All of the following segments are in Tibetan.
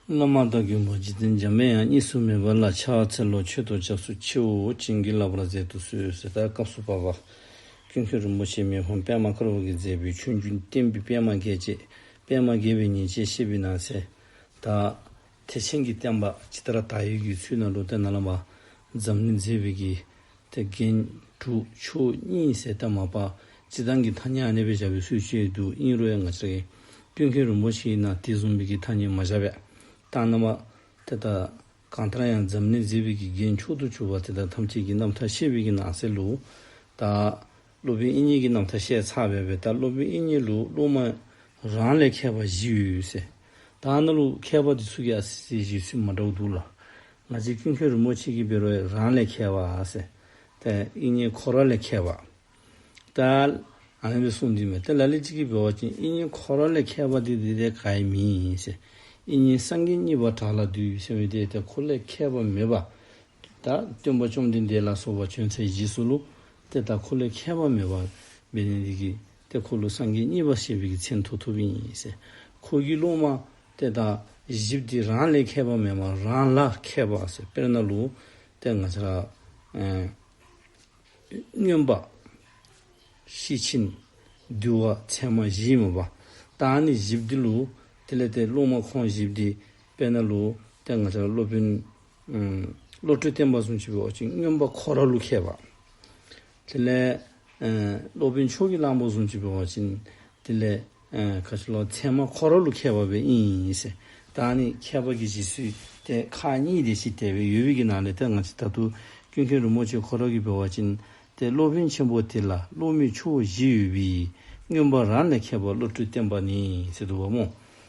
བླ་མ་དང་གྱོན་པ་འཇིག་རྟེན་འཇམ་པའི་དབྱངས་གཉིས་སུ་མེད་པ་ལ་ཕྱག་འཚལ་ལོ་མཆོད་དུ་ཆབ་སྲུ་ཁྱེའུ་བྱིན་གྱིས་བརླབས་པར་མཛད་དུ་གསོལ་ཟེར་ལྟར་སྐབས་སུ་བབས་པ། ཀུན་མཁྱེན་རིན་པོ་ཆེས་མེ་ཕུང་པདྨ་དཀར་པོ་གིས་མཛད་པའི་ཆོས་རྒྱུན་བསྟན་པའི་པདྨ་རྒྱལ་བཅས་པདྨ་རྒྱལ་བའི་ཉིན་བྱེད་ཤེས་པའི་ནང་གསལ། དག། ཐེག་ཆེན་གྱི་བསྟན་པ་ཇི་ལྟར་དར་ཡོད་ཀྱི་ཚུལ་ནང་ལུང་བསྟན་ནང་ལམ་པ་འཛམ་གླིང་མཛེས་པའི་གིས་ཐེག་མཁན་དྲུག་ཆོས་གཉིས་གསལ་གདབ་མ་པ་སྤྱི་དང་གི་ཐ་སྙད་གནས་པས་བྱ་བའི་ཚུལ་བཅས་བསྡུ་དབྱིངས་རོལ་མངའ་ཆེ། སྐྱོན་མཁན་རིན་པོ་ཆེའི་ནང་དེ་གཟུང་བས་ཀྱི་ཐ་སྙད་མ་བྱ་བས་རྟགས་སྣང་བ། དེ་ལྟར་གང་ལྟར་ཡང་འཛམ་གླིང་མཛེས་པས་ཀྱི་རྒྱན་མཆོག་ཏུ་གྱུར་པ་དེ་དག་ཐམས་ཅད་ཀྱི་རྣམ་ཐར་ཤེས་བས་ཀྱི་ནང་གསལ་ལུགས་དག། སློབ་དཔོན་དབྱིན་ཉིད་ཀྱི་རྣམ་ཐར་བཤད་ཚར་བའི་བའི་ལྟར་སློབ་དཔོན་དབྱིན་ཉིད་ལུགས་སློབ་མ་རང་ལས་མཁས་པ་བཞི་ཡོད་ཡོད་ཟེར། ད་གནའ་ལུགས་མཁས་པ་འདི་ཚུགས་ཀྱི་ཨ་སི་སི་ཞིག་ཚུད་མ་འདྲ་བོ་འདུག་ལ། ང་ཚོའི་ཀུན་མཁྱེན་རིན་པོ་ཆེ་ཀྱི་བེ་རོ་ཡིས་རང་ལས་མཁས་པ་ཟེར། ད་དབྱིན་ཉིད་ཁོ་རང་ལས་མཁས་པ། ད་ཨ་མའི་གསུང་འདི་མེད་ད་ལ་ལི་གཅིག་གིས་བེ་བ་ཅན་དབྱིན་ཉིད་ཁོ་རང་ལས་མཁས་པ་འདི་འདི་ལྟའི་ག་ཡི་མི་ཡིན་ཟེར། དབྱིན་ཉིད་སངས་རྒྱས་གཉིས་པ་བྲག་ལ་འདུས་ཟེར་བའི་དེ་ད་ཁོ་ལས་མཁས་པ་མེད་པ། ད་སྟོན་པ་བཅོམ་ལྡན་འདས་ལ་སོགས་པ་བྱོན་ཚེ་བཞི་སུ་ལུ་ཏེ་དང་འཁོར་ལོའི་ཁྱད་པར་མེད་པ། མི་ནི་འདི་ཀྱི། ཏེ་འཁོར་ལོ་སངས་རྒྱས་གཉིས་པ་ཞེས་པའི་ཀྱི་ཚེ་མཐོ་ཐུབ་ཡིན། འཁོར་གྱི་རླུང་མ། ཏེ་དང། བཞི་སྟེ་རང་ལས་ཁྱད་པར་མེད་པ་རང་ལ་མཁས་པ། དཔེར་ན་ལུས། ཏེ་ང་ཚ། སྨྱོན་པ། ཤེས་ཕྱིན། འདུལ་བ་ཚད་མ་བཞི་ཡིན་པ། དང་ནི་བཞི་སྟེ་ལུས། ཏེ་ལས་ཏེ་རླུང་མ་ཁོང་བཞི་སྟེ། དཔེར་ན་ལུས། ཏེ་ང་ཚ་སློབ་དཔོན། བློ་གྲོས་བརྟན་པ་གསུམ་བྱེད་པའི་འོག་ཅིང་སྨྱོན་པ་ཁོ་ར་ལུ་མཁས་པ། དེ་ལས། སློབ་དཔོན་མཆོག་གི་གླང་པོ་གསུམ་བྱེད་པའི་འོག་ཅིང་དེ་ལས། ཁ་ཆེ་ལོ་ཚད་མ་ཁོ་ར་ལུ་མཁས་པ་བས་ཨིནས། བདག་ནི་མཁས་པ་གྱི་རྗེས་སུས་ཏེ་ཁ་གཉིས་ཏེ་ཕྱིས་ལྟས་པའི་ཡོལ་བུས་ཀྱི་ནང་ལས་ལྟ་ང་ཅི་ད་དུ་སྐྱོན་མཁན་རུ་མོ་ཆེ་ཁོ་ར་གི་བའི་འོག་ཅིང་ཏེ་སློབ་དཔོན་ཆེན་པོ་དེ་ལ་སློབ་མའི་ཆུ་བོ་བཞི་ཡོལ་བུས་སྨྱོན་པ་རང་ལས་མཁས་པ་བློ་གྲོས་བརྟན་པ་ནི་ཚེ་དུ་བ་མོ།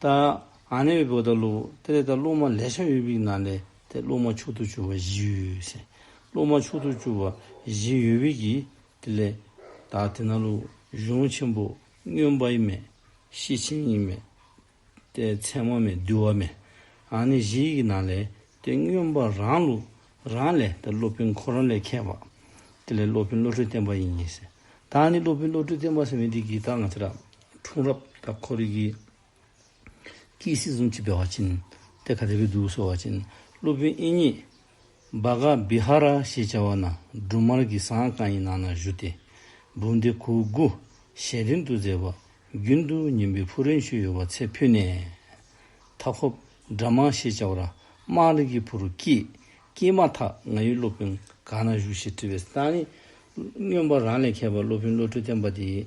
ད་ཨ་ནེའི་བུ་དང་ལུག་དེ་རེ་ད་ལུག་མ་ལས་ཤ་ཡོད་བིག་ན་ལས་དེ་ལུག་མ་ཕྱུག་ཐུ་བཅུ་བ་བཞི་ཡོད་ཟེར་ལུག་མ་ཕྱུག་ཐུ་བཅུ་བ་བཞི་ཡོད་བིག་གིས་དེ་ལས་ད་དེ་ན་ལུག་གཞུང་ཆེན་པོ་སྨྱོན་པ་ཡིན་མེད་ཤི་ཆེན་ཡིན་མེད་དེ་མཚན་མ་མེད་འདུལ་བ་མེད་ཨ་ནེ་བཞི་ཡིག་ན་ལས་དེ་སྨྱོན་པ་རང་ལུག་རང་ལས་དེ་སློབ་དཔོན་ཁོ་རང་ལས་མཁས་པ་དེ་ལས་སློབ་དཔོན་བློ་གྲོས་བརྟན་པ་ཡིན་ཟེར་ད་ཨ་ནེ་སློབ་དཔོན་བློ་གྲོས་བརྟན་པ་ཟེར་བས་འདི་གིས་ད་ང་ཚོ་ར་འཁྲུངས་རབས་དང་འཁོར་ཡུག་གི། ཀྱིས་སྲིད་གསུམ་སྤྱི་དཔལ་བ་ཅིན། ཏེ་ཁ་རི་བི་དུ་སོ་བ་ཅིན། སློབ་དཔོན་ཨིན་ཉི། བྷ་ག་བི་ཧ་ར་ཞེས་བྱ་བ་ན་འབྲུ་མར་གྱི་ཟངས་རྐང་ཡི་ནང་ན་བཞུགས་ཏེ། འབུམ་སྡེ་གུ་གུ། ཞལ་རིང་དུ་མཛེས་པ། རྒྱུན་དུ་ཉིན་པའི་ཕུག་རོན་ཤུལ་ཡོད་པར་ཚེ་འཕོས་ནས། མཐའ་འཁོབ། སྦྲ་མ་ཞེས་བྱ་བ་ར་མ་རི་གི་བུ་རུ་ཀྱིས། ཀྱིས་མ་ཐག་ང་ཡི་སློབ་དཔོན་གང་ན་བཞུགས་ཞེས་དྲི་བས། ཏཱ་ནི། སྨྱོན་པ་རང་ལས་མཁས་པ་སློབ་དཔོན་བློ་གྲོས་བརྟན་པ་དེས།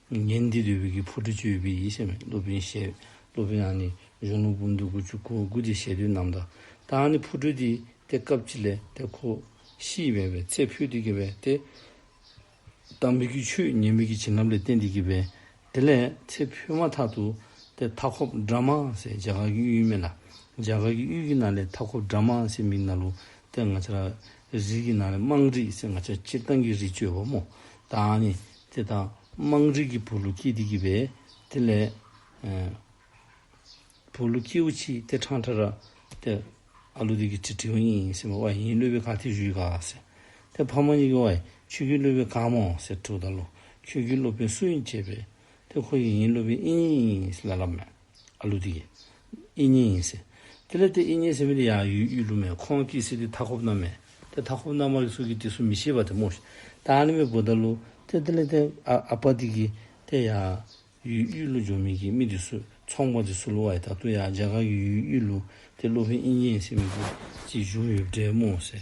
ཉིན་འདི་དུས་བོད་ཀྱི་བུ་ཕྲུག་བཅུ་ཡོད་པའི་ཡིད་ཆེས་མེད་ཀླུ་དཔོན་ཞེས་ཀླུ་དཔོན་ཡང་ནི་གཞུང་ལུགས་སྤུན་བདུན་དགུ་བཅུ་གོ་དགུ་སྟེ་ཞལ་དུས་རྣམས་དང་དང་ནི་བུ་ཕྲུག་དེ་དེ་སྐབས་ཀྱི་ལས་དེ་ཁོ་ཤི་བའི་བའི་ཚེ་ཕུལ་དུ་བགྱི་བས་དེ་ལྟར་མི་དགེའི་ཆོས་ཉེས་མེད་ཀྱི་བྱིན་རླབས་ལས་བསྟན་དུ་བགྱིས་པས་དེ་ལས་ཚེ་འཕོས་མ་ཐག་ཏུ་དེ་མཐའ་འཁོབ་སྦྲ་མ་སའི་འཇའ་གར་གྱི་གཡུལ་མེད་ལ་འཇའ་གར་གྱི་གཡུལ་གྱི་ན་ལས་མཐའ་འཁོབ་སྦྲ་མ་སའི་མིག་ན་ལུ་སྟེ་ང་ཆ་རིགས་ཀྱི་ན་ལས་དམངས་རིགས་སེ་ང་ཆ་སྤྱིར་བཏང་གི་རིགས་གཅོད་པ་མོ་དང་ནི་དེ་དང་དམངས་རིགས་ཀྱི་བུ་ལུ་སྐྱིད་དེ་གྱིས་པས་དེ་ལས། བུ་ལུ་སྐྱིད་བུ་ཆིག་སྟེ་ཁྲང་ཁྲ་ར། དེ་ཨ་ལུ་དེ་གྱིས་ཁྲི་ཁྲི་འོ་ཡིན་ཡིན་ཟེར་མོ་ཨོ་ཡིན་ལུས་པའི་གང་ཐེ་ཞུས་ག་ཟེར། དེ་ཕ་མ་གཉིས་ཀྱིས་ཨོ་ཡ་ཁྱོད་ཀྱིས་ལུས་པའི་གང་མོ་ཟེར་ཁྲུ་ད་ལུ་ཁྱོད་ཀྱིས་ལུས་པའི་སུ་ཡིན་བྱས་པས། དེ་ཁོ་ཡིས་ཡིན་ལུས་པའི་ཨི་ཡིན་ཨི་ཡིན་ལ་ལབ་མོད། ཨ་ལུ་ཏིག། ཨི་ཉི་ཡིན་ཟེར། དེ་ལས་དེ་ཨི་ཉི་ཟེར་མི་དེ་ཡང་ཡུལ་ཨུ་ལུ་མས་ཁོང་ཀི་སི་ཏི་མཐའ་འཁོབ་རྣམས་མས་དེ་མཐའ་འཁོབ་རྣམས་མ་ལི་སུ་ཀི་ཏི་སུ་མི་ཤེས་པ་དེ་མོ་ཤི་ཏཱ་ནི་མི་བུ་ཏཱ་ལུ་དེ་དེ་ལས་དེ་ཨ་ཨ་པ་ཏི་ཀི་དེ་ཡང་ཡུལ་ཨུ་ལུ་འཇོ་མི་ཀི་མི་དེ་སུ་ཚོང་པ་དེ་སུ་ལུ་བ་ཡི་ད་ཏུ་ཡང་རྗ་ག་གི་ཡུལ་ཨུ་ལུ་དེ་ལུ་ཧི་ཨི་ཉི་ཡིན་ཟེར་མི་བུ་ཅི་བྱུང་ཡོད་བྲེད་མོ་ཟེར།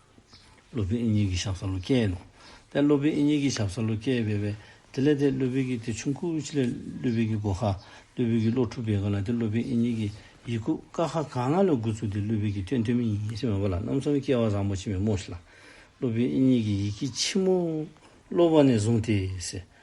སློབ་དཔོན་ཨིན་ཡིག་གི་ཞབས་སཱ་ལུ་ཀའི་ལུགས། དཔལ་སློབ་དཔོན་ཨིན་ཡིག་གི་ཞབས་སཱ་ལུ་ཀའི་དཔེ་བས་དེ་ལས་དེ་སློབ་དཔོན་གྱི་དེ་ཆུང་ཁུག་ཅིག་ལས་སློབ་དཔོན་གྱི་སྒོ་ཁ། སློབ་དཔོན་གྱི་བློ་འཁྲུགས་པའི་སྒོ་ལ་དེ་སློབ་དཔོན་ཨིན་ཡིག་གི་ཡིག་ཁུག་ཀ་ཁ་ག་ང་ལ་དགུ་ཚུགས་ཏེ་སློབ་དཔོན་གྱི་དཔེ་མཐོན་མིན་ཡིན་ཞེས་མ་པ་ལ་རྣམ་གསུམ་སྐྱེ་བ་བཟང་པོ་ཆེན་པོའི་མོ་ཤི་ལ། སློབ་དཔོན་ཨིན་ཡིག་གི་ཡིག་གི་ཕྱི་མོ། སློབ་བ་ནས་བཟུང་སྟེ།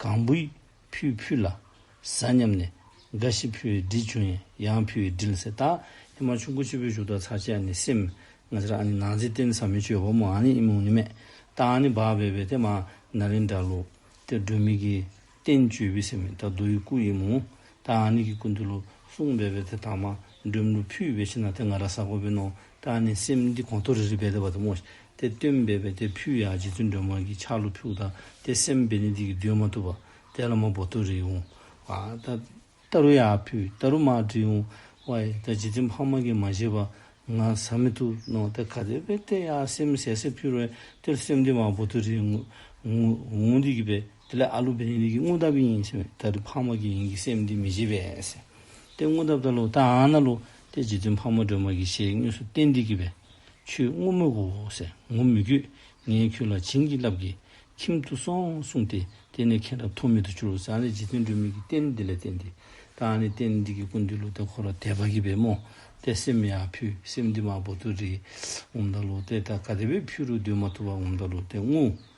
གང་བུའི་ཕུའི་ཕུ་ལ། ཟ་སྙམ་ནས། འགའ་ཞིག་ཕུའི་སྦྲིད་བྱུང་ཡང་ཡང་ཕུའི་སྦྲིད་ཟེར་ད། ཨེ་མ་ཆུ་འགོ་སྤྱི་བོའི་བཞུགས་སྟངས་ཚར་བཅད་ནས་སེམས། ང་ཚེ་ར་ཨ་ནི་ནང་ཚེ་བརྟེན་ས་མི་ཆོས་བ་མོ་ཨ་ནི་ཨི་མུག་ནི་མེད། ད་ཨ་ནི་བག་བེ་བེ་དེ་མ་ན་རིན་འདྲ་ལུ། དེ་སྒྲོན་མི་གི། བརྟེན་བཅོས་བི་སེ་མི་ད་རྡོ་ཡི་སྐུ་ཨི་མུག། ད་ཨ་ནི་གི་སྐུ་འདི་ལུ། གསུང་བེ་བེ་དེ་དག་མ། འགྲོན་ལུ་ཕུའི་བེ་ཤི་ན་དེ་ང་ར་ཟ་གོ་བེ་ནོ། བདག་ནི་སེམས་འདི་གོང་མཐོ་རིས་རིས་བས་ལྡབ་བར་དུ་སྔོ། དེ་སྟོན་བས་པས་དེ་ཕུལ་ཡང་རྗེ་བཙུན་སྒྲོལ་མ་གིས་ཆག་ལུ་ཕུག་དང་དེ་སེམས་བས་ནི་འདི་གི་འདུན་མ་ཐུབ་པ། དེ་ལ་མ་བོ་མཐོ་རིས་འོང། བརྟ་རུ་ཡང་ཕུལ་བརྟ་རུ་མ་བྲིས་འོང། བའི་བརྟ་རྗེ་བཙུན་འཕགས་མ་གིས་མ་བཞེས་པ། ང་ཟ་མི་ཐུབ་ནོ་དེ་ག་དེ་བས་བརྟས་ཡང་སེམས་ཟས་སེ་ཕུལ་བས་དེ་སེམས་འདི་མ་བོ་མཐོ་རིས་འོང་འོང་འོང་འོང་འདི་གི་བས། དེ་ལས་ཨ་ལུ་བེ་རི་རིགས་ཀྱི་དངོས་འདབ་ཀྱི་ཡིན་ཕྱིན་ད་རི་ཕག་མོ་ཀྱི་ཡིན་གྱི་སེམས་འདི་མི་བྱེད་པས། དེ་དངོས་འདབ་ད་ལུ་ད་ཨ་ན་ལུ་དེ་རྗེ་བཙུན་ཕག་མོ་སྒྲོལ་མ་ཀྱི་ཞེས་དངོས་སུ་བསྟན་འདི་གི་བས། ཆུ་སྔོན་མོ་གོ་ཟེ་ངོ་མི་གུས་ངས་ཁྱོད་ལ་བྱིན་གྱིས་བརླབས་ཀྱིས་ཁྱིམ་དུ་སོང་གསུངས་ཏེ་དེ་ནས་མཁན་རབས་ཐོགས་མེད་དུ་གྱུར་བཟང་ལས་རྗེ་བཙུན་སྒྲོལ་མས་ཀྱི་བསྟན་འདི་ལས་བསྟན་འདི་ད་ཨ་ནི་བསྟན་འདི་གི་ཀུན་འདུས་ལུ་ད་འཁོར་བ་དད་པ་གི་བས་མོ་ཏས་སེམས་ཡ་ཕུ་སེམས་འདི་མ་བོ་དུ་རི་ངོམ་ད་ལུ་ཏས་ད་ག་དད་པས་ཕུ་རུ་སྡོད་མ་ཐུབ་བ་ངོམ་ད་ལུ་ཏས་ངུ་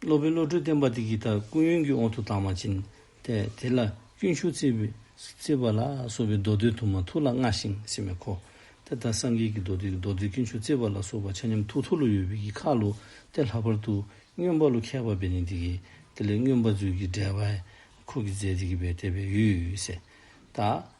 སློབ་དཔོན་བློ་གྲོས་བརྟན་པ་དེ་གྱིས་ད་ཀུན་ཡོན་གྱི་འོག་ཏུ་དྭངས་མ་བྱིན་ཏེ་དེ་ལ་སྐྱོན་ཞུགས་བརྩིས་པ་ལ་སོགས་པའི་མདོ་དོན་དུ་མ་ཐུགས་ལ་མངའ་ཞིང་ཕྱི་མའི་འཁོར་དེ་ལྟར་སངས་རྒྱས་ཀྱི་མདོ་དེ་མདོ་དེ་སྐྱོན་ཞུགས་བརྩིས་པ་ལ་སོགས་པ་ཆ་མཉམ་ཐུགས་ཐུགས་ལ་ཡོད་པའི་གྱི་ཁ་ལོ་སྟེ་ལྷག་པར་དུ་སྨྱོན་པ་ལོ་ཁད་པ་བས་ནི་དེ་གྱིས་དེ་ལས་སྨྱོན་པ་ཚུལ་གྱིས་བསྒྲལ་བས་འཁོར་གྱི་རྫས་དེ་གྱིས་པའི་དེ་བས་ཡུས་སེ་ད།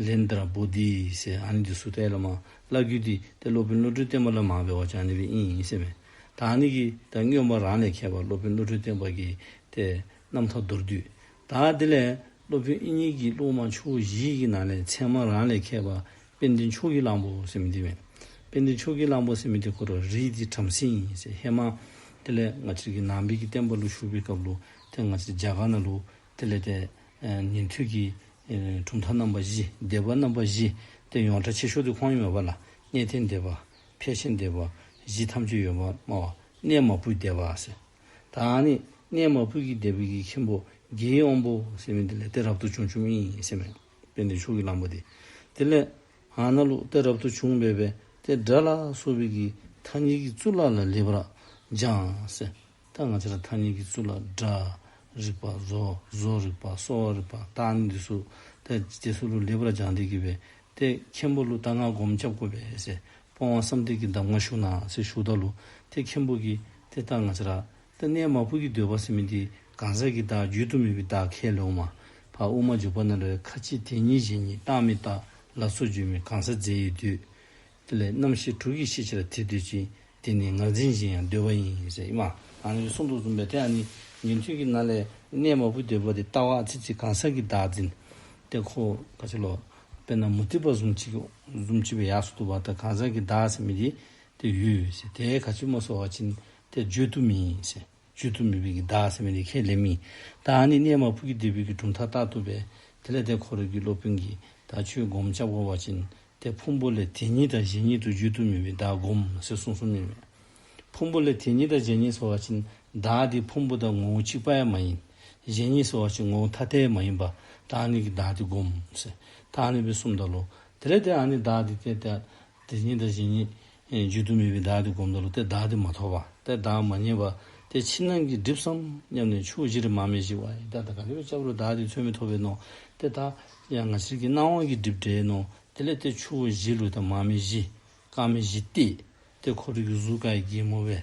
Lindra Bodhi ཞེས་ཨ་ནི་དེ་སུ་ཏའི་བླ་མ་བླ་རྒྱུད་དེ་དེ་སློབ་དཔོན་བློ་གྲོས་བསྟན་པ་ལ་མང་བའི་བ་ཅང་ནི་བའི་དབྱིན་ཡིན་ཞེས་སྨྲས། ད་ཨ་ནི་ཀྱིས་ད་སྨྱོན་པ་རང་ལས་མཁས་པ་སློབ་དཔོན་བློ་གྲོས་བསྟན་པ་ཀྱིས་དེ་རྣམས་ཐ་མདོར་བསྡུས། ད་དེ་ལས་སློབ་དཔོན་དབྱིན་ཡིག་གི་གླུ་མ་ཆུ་བོ་བཞི་ཡི་ནང་ནས་ཚད་མ་རང་ལས་མཁས་པ་དཔལ་ལྡན་མཆོག་གི་གླང་པོ་སེམས་མི་དེ་མེད། དཔལ་ལྡན་མཆོག་གི་གླང་པོ་སེམས་མི་དེ་འཁོར་བ་རིས་དེའི་བྲམ་ཟེ་ཡིན་ཞེས་ཧེ་མ་ཏི་ལའི་ནག་ཕྱིར་གྱི་ནང་དཔལ་གྱི་བསྟན་པ་གླུ་བཞུགས་པའི་སྐབས་ལུགས་དེ་སྔ་ཕྱི་རྒྱ་གར་ན་ལུགས་དེ་ལས་འདས། ཉན་ཐོས་ཀྱི། གྲུབ་མཐའ་རྣམ་པ་བཞི། བདེ་བ་རྣམ་པ་བཞི། སྟེ་ཡོངས་གྲགས་ཆེ་ཤོས་དུ་ཁོང་ཡོད་མེད་པ་ལ་གནས་ཏེ་འདས་པ། ཕལ་ཆེར་འདས་པ། བཞི་ཐམས་ཅད་ཡོད་མ་སྨྲ་བ། གནས་མ་བུ་འདས་པ་ཟེར། དང་ནི། གནས་མ་བུ་གྱི་འདས་པའི་གྱི་ཁྱིམ་པོ། གྱི་དབང་པོ། ཟེར་བས་འདི་ལས་ཏེ་རབ་ཏུ་བྱུང་ཆུབ་མིན་ཞེས་སྨྲས། པས་འདི་ཕྱོགས་ཀྱི་ལམ་པོ་སྟེ། དེ་ལས། ཧ་ན་ལུག་ཏེ་རབ་ཏུ་བྱུང་སྨྲས་པས་ཏེ་སྒྲ་ལ་སོགས་པའི་གྱི་མཐའ་གཉིས་ཀྱི་གཙུག་ལག་ལ་ལེ་བར་སྦྱངས། ད་ང་ཚོ་ལ་ཐ་སྙད་ཀྱི་གཙུག་ལག་སྒྲ་རིག་པ་བཟོ་བཟོ་རིག་པ་གསོ་བ་རིག་པ་རྟགས་ནི་འདི་སུ་དེ་རྗེས་སུ་ཀླུ་ལེགས་པར་སྦྱངས་འདས་ཀྱི་བས་ཏེ་མཁན་པོ་ཀླུ་རྟ་སྔགས་སྒོམ་ཁྱབ་བཀོད་པའི་ཟས་སྤོང་བ་བསམ་གཏན་གྱི་འདམ་ངར་ཞུགས་ནའང་ཚེ་ཞུགས་བདག་ལུ་དེ་མཁན་པོ་གྱིས་དེ་ལྟར་ང་ཚོ་ར་ཏི་གནས་མ་ཕུར་གྱི་འདོད་པ་སེམས་མི་འདི་གང་ཟག་གི་བདག་རྒྱུད་དུ་མེད་པའི་བདག་ཁས་ལེའུ་མ་བར་དབུ་མ་འཇུག་པ་ན་ལོའི་ཁ་ཆེ་དེ་ཉིད་གཞན་གྱི་རྟགས་མི་རྟག་ལ་སོགས་རྒྱུད་མི་གང་ཟག་རྫས་ཡོད་དུས་དེ་ལས་རྣམ་ཤེས་དྲུག་གིས་ཤེས་བྱ་ལ་དེ་འདོད་ཅིང་དེ་ནི་ངར་འཛིན་ཅིང་ཡང་འདོད་པ་ཡིན་ཟེར་སྙམ། གང་གི་གསུང་དུ་འཛུམ་པའི་དེ་ནི་ཉན་ཐོས་ཀྱི་རྣ་ལས་གནས་མ་བུ་འདོད་པ་དེ་ལྟ་བ་ཚེ་གཅིག་གང་ཟག་གི་བདག་འཛིན། དེ་ཁོ། ཁ་ཆེ་ལོ། དཔེར་ན་མུ་ཏིག་པ་ཟུང་གཅིག་ཟུང་གཅིག་པའི་ཡགས་སུ་འདུག་པ་དང་གང་ཟག་གི་བདག་ཟེར་མི་དེ་དེ་ཡུལ། དེའི་ག་ཆུད་མ་སོགས་བ་ཅིན་དེ་བརྗོད་དུ་མིན། བཅོས་ཐུབ་མི་ཕོད་ཀྱི་བདག་ཟེར་བའི་ནི་ཁས་ལེན་མིན། བདག་ནི་གནས་མ་ཕུག་གི་འབྲས་བུའི་གི་གྲུབ་མཐའ་བརྟག་ཐུབ་པས་དེ་ལས་འདས་འཁོར་རིགས་ཀྱི་སློབ་དཔོན་གྱིས་བདག་ཆོས་བསྒོམ་བྱ་བསྒོ་བ་ཅན་ཏེ་ཕུང་པོ་ལས་དེ་ཉིད་དང་གཞན་ཉིད་དུ་བརྗོད་ཐུབ་མི་བས་བདག་བསྒོམ་ཟེར་གསུངས་སོ་སྙམ་མོད། ཕུང་པོ་ལས་དེ་ཉིད་དང་གཞན་ཉིད་ཟེར་བ་ཅན་བདག་དེ་ཕུང་པོ་དང་ངོ་བོ་གཅིག་པ་ཡང་མ་ཡིན། གཞན་ཉིད་ཟེར་བ་ཅན་ངོ་བོ་ཐ་དད་མ་ཡིན་པ་བདག་ནི་གི་བདག་དེ་བསྒོམ་ཟེར་བདག་ནི་བས་གསུམ་དང་ལོ། དེ་ལས་འདས་ཨ་ནི་བདག་དེ་དེ་ལྟ། དེ་ཉིད་དང་གཞན་ཉིད། བརྗོད་དུ་མེད་པའི་བདག་དེ་བསྒོམ་དུ་ལ་དེ་བདག་དེ་མ་ཐོབ་པ། དེ་བདག་མ་རྙེད་པ། དེ་ཕྱི་ནང་གི་སྒྲིབ་སམ་སྙམ་ནས་ཆུ་བོ་བཞི་རེ་མ་མེད་ཅིག་བ་ཡི་དྭགས་དང་ག་ལེ་བའི་ལྕགས་རུ་བདག་དེ་ཚོད་མེད་ཐོབ་པས་ནོ། དེ་དག། ཡང་ང་ཕྱིར་གྱི་སྣང་བ་གྱི་སྒྲིབ་བྲལ་ནོ། དེ་ལས་དེ་ཆུ་བོ་བཞི་ལུས་དང་མ་མེད་བཞི། སྐར་མེད་བཞི་སྟེ། དེ་འཁོར་དྲུག་གི་གཟུགས་ཀ་ཡི་རྒྱལ་མོ་བས།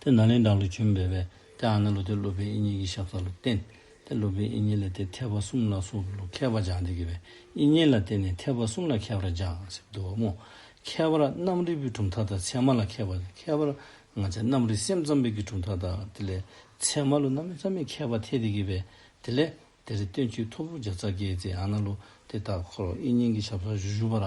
དེ་ནཱ་ལེནྡྲ་ལུགས་བྱོན་པས་བས་ཏེ་ཨ་ནཱ་ལུགས་དེ་སློབ་དཔོན་ཨིན་ཉིད་ཀྱི་ཞབས་ས་ལ་བསྟན། དེ་སློབ་དཔོན་ཨིན་ཉིད་ལ་དེ་ཐེག་པ་གསུམ་ལ་སོགས་པའི་ལུགས་མཁས་པ་སྦྱངས་ཏེ་གི་བས་ཨིན་ཉིད་ལ་བསྟེན་ནས་ཐེག་པ་གསུམ་ལ་མཁས་པར་སྦྱངས་ཟེར་དུ་འོང་ངོ། ཁྱད་པར་རྣམ་རིག་པའི་གྲུབ་མཐའ་དང་ཚད་མ་ལ་མཁས་པ་ཁྱད་པར་ང་ཚའི་རྣམ་རིག་སེམས་ཙམ་པའི་གི་གྲུབ་མཐའ་དང་དེ་ལས་ཚད་མ་ལུགས་རྣམ་རིག་ཙམ་པའི་མཁས་པ་འཐད་དེ་གི་བས་དེ་ལས་དེ་རིགས་སྟོན་བྱེད་ཐོར་བུ་བརྒྱ་རྩ་བརྒྱད་ཅེས་ཨ་ནཱ་ལུགས་དེ་ལྟར་འཁོར་བ་ཨིན་ཉིད་ཀྱི་ཞབས་སར་བཞུགས་པ་ལ་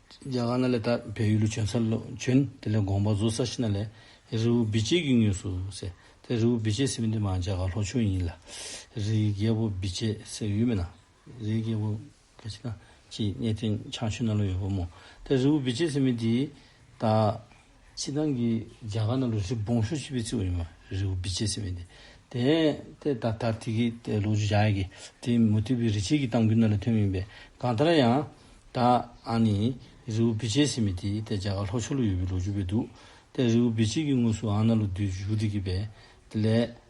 རྒྱ་གར་ན་ལས་དག་པའི་ཡུལ་ལུགས་བྱོན་ས་ལོ་བྱོན། དེ་ལས་དགོངས་པ་རྫོགས་ས་ཤི་ན་ལས། རི་བོ་བི་ཇེ་གི་ངོས་སུ་ཟེར། དེ་རི་བོ་བི་ཇེ་ཟེར་མི་འདི་མ་རྒྱ་གར་ལྷོ་ཆུང་ཡིན་ལ། རིའི་རྒྱལ་པོ་བི་ཇེ་ཟེར་ཡུལ་མི་ན། རིའི་རྒྱལ་པོ། ག་ཅི་ན། ཀྱི་གནས་སྟེང་བྱང་ཆུ་སྣ་ལོ་ཡོད་པ་མོ། དེ་རི་བོ་བི་ཇེ་ཟེར་མི་འདིའི། ད། ཕྱི་ནང་གི་རྒྱ་གར་རྣམས་ལ་རི་བོང་ཤོ་ཆེ་བའི་ཚིག་བ་ཡོད་མ་རེད་རི་བོ་བི་ཅེ་ཟེར་བས་དེ། དེ་ད་ལྟར་དེ་གི་ལོ་རྒྱུས་བྱ་ཡག་གི་དེ་མུ་མཐུད་པའི་རི་ཆེན་གྱི་གཏམ་རྒྱུད་རྣམས་ལས་ཐོན་མིན་པས་གང་ལྟར་ཡང། ད་ཨ་ནི་རི་བོ་བི་ཅེ་ཟེར་མི་དེ་དེ་རྒྱ་གར་ལྷོ་ཕྱོགས་ལ་ཡོད་པའི་ལོ་རྒྱུས་བས་འདུག་དེ་རི་བོ་བི་ཅེ་གི་ངོས་སུ་ཨ་ན་ལོ་དུས་བཞུགས་འདུག་གི་བས་དེ་ལས།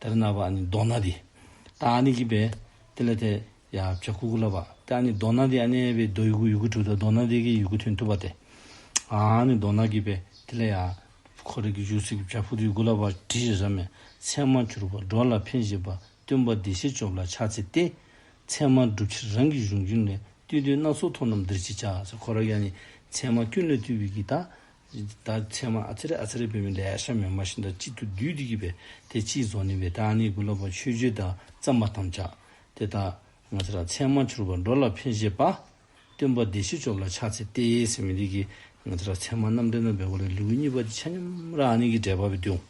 དེ་ལ་ན་བ་ནི་མདོག་ན་དེ། ད་ཨ་ནི་གི་བས། དེ་ལ་དེ། ཡ་བྱ་ཀུ་ཀུ་ལ་བ། དེ་ཨ་ནི་མདོག་ན་དེ་ཨ་ནེ་བའི་མདོག་ཡུ་གུ་ཡུ་གུ་དྲུག་དང་མདོག་ན་དེ་གི་ཡུ་གུ་མཐུན་ཐུབ་པ་དེ། ཨ་ནི་མདོག་ན་གི་བས། དེ་ལ་ཡ། ཁོ་རེ་གི་ཡུག་སི་གི་བྱ་ཕུ་དུ་ཡུ་གུ་ལ་བ་དྲི་ཞེས་སམ། མཚན་མ་གྱུར་པ་འགྲོ་ལ་འཕེན་བཞིན་པ་སྟོན་པ་འདི་བཞི་བཅོ་ལ་ཆ་ཚེ་སྟེ། མཚན་མ་འགྲུབ་ཕྱིར་རང་གི་གཞུང་རྒྱུན་ལས་བཏུས་དོན་སྣ་ཚོགས་མཐོང་རྣམས་འདིར་ཅི་བྱ། ཁོ་ར་ཡ་ནི། མཚན་མ་ཀུན་ལས་བཏུས་པའི་གི་ད། ད་ཚེ་མ་ཚེ་རེ་ཨ་ཚེ་རེ་བོད་མི་ལས་ཨ་ཤ་མེ་མ་བཞིན་དང་གཅིག་ཏུ་བསྡུས་ཏེ་བགྱིས་པས་དེ་ཕྱིའི་རྫོགས་ནི་བས་དཱ་ནི་གུ་ལོ་བ་ཆོས་སྤྱོད་དང་བརྩམས་པ་ཐམས་ཅད་དེ་ལྟ། ང་ཚེ་ར་ཚེ་མ་འཕྱུར་བ་འགྲོ་ལ་ཕན་བཞེད་པ། སྟོན་པ་སྡེ་བཞི་སྤྱོབ་ལ་ཕྱག་འཚལ་ཏེ་ཟེར་མི་འདི་གིས་ང་ཚེ་ར་ཚེ་མ་རྣམ་འདྲེན་དང་བས་གོ་ལའི་ལེའུ་གཉིས་པ་དེ་ཆ་སྙོམས་ར་ཨ་ནི་གི་འགྲེལ་པ་བས་དུང་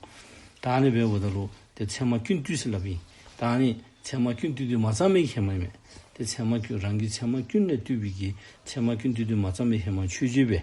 དཱ་ནི་བས་འོ་ད་ལུ་དེ་ཚེ་མ་ཀུན་བཏུས་ཟེར་ལབ་ཡིན་དཱ་ནི་ཚེ་མ་ཀུན་བཏུས་དུས་མ་བརྩམས་པའི་ཧེ་མ་ཡིན་མོད་དེ་ཚེ་མ་ཀུན་རང་གིས་ཚེ་མ་ཀུན་ལས་བཏུས་པའི་གིས་ཚེ་མ་ཀུན་བཏུས་དུས་མ་བརྩམས་པའི་ཧེ་མ་ཆོས་སྤྱོད་པས་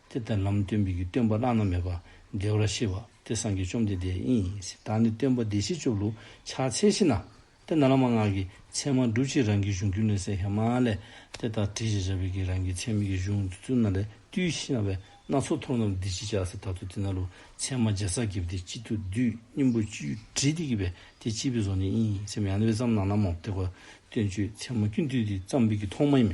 དེ་ལྟར་ལམ་སྟོན་པའི་སྟོན་པ་བླ་ན་མེད་པ། བདེ་བར་གཤེགས་པ། དེ་སངས་རྒྱས་བཅོམ་ལྡན་འདས་ཡིན། ད་ནི་སྟོན་པ་བདེ་གཤེགས་བཅུ་བླུག་ཕྱག་འཚལ་བཞི་ན། དེ་ན་བླ་མ་སྔགས་ཀྱི་མཚན་མ་སྒྲུབ་བྱེད་རང་གི་གཞུང་རྒྱུད་ལས་སའི་ཧེ་མ་ཨ་ལས། དེ་ལྟར་བྲི་བྱེད་བྱ་བའི་གེགས་རང་གི་ཚད་མེད་ཀྱི་གཞུང་དུ་བཙུན་ན་ལས་བཏུས་ཤེས་ན་བས་སྣ་ཚོགས་མཐོང་ལམ་འདི་ཅི་བྱ་སེ་ད་དུ་དེ་ན་ལུགས་མཚན་མ་བརྒྱ་རྩ་བརྒྱད་པོ་དེ་གཅིག་ཏུ་བསྡུས་སྙིང་པོ་བཅུའི་དྲིལ་དེ་གྱིས་པས་དེ་གཅིག་པའི་བཟོ་ནི་ཡིན་སེམས་ཡང་ན་བས་ཙམ་ན་ནམ་མོ་བརྟགས་པ་སྟོན་བཅོས་མཚན་མ་ཀུན་བསྡུས་ཏེ་བརྩམས་པའི་གི་ཐོག་མ་ཡིན།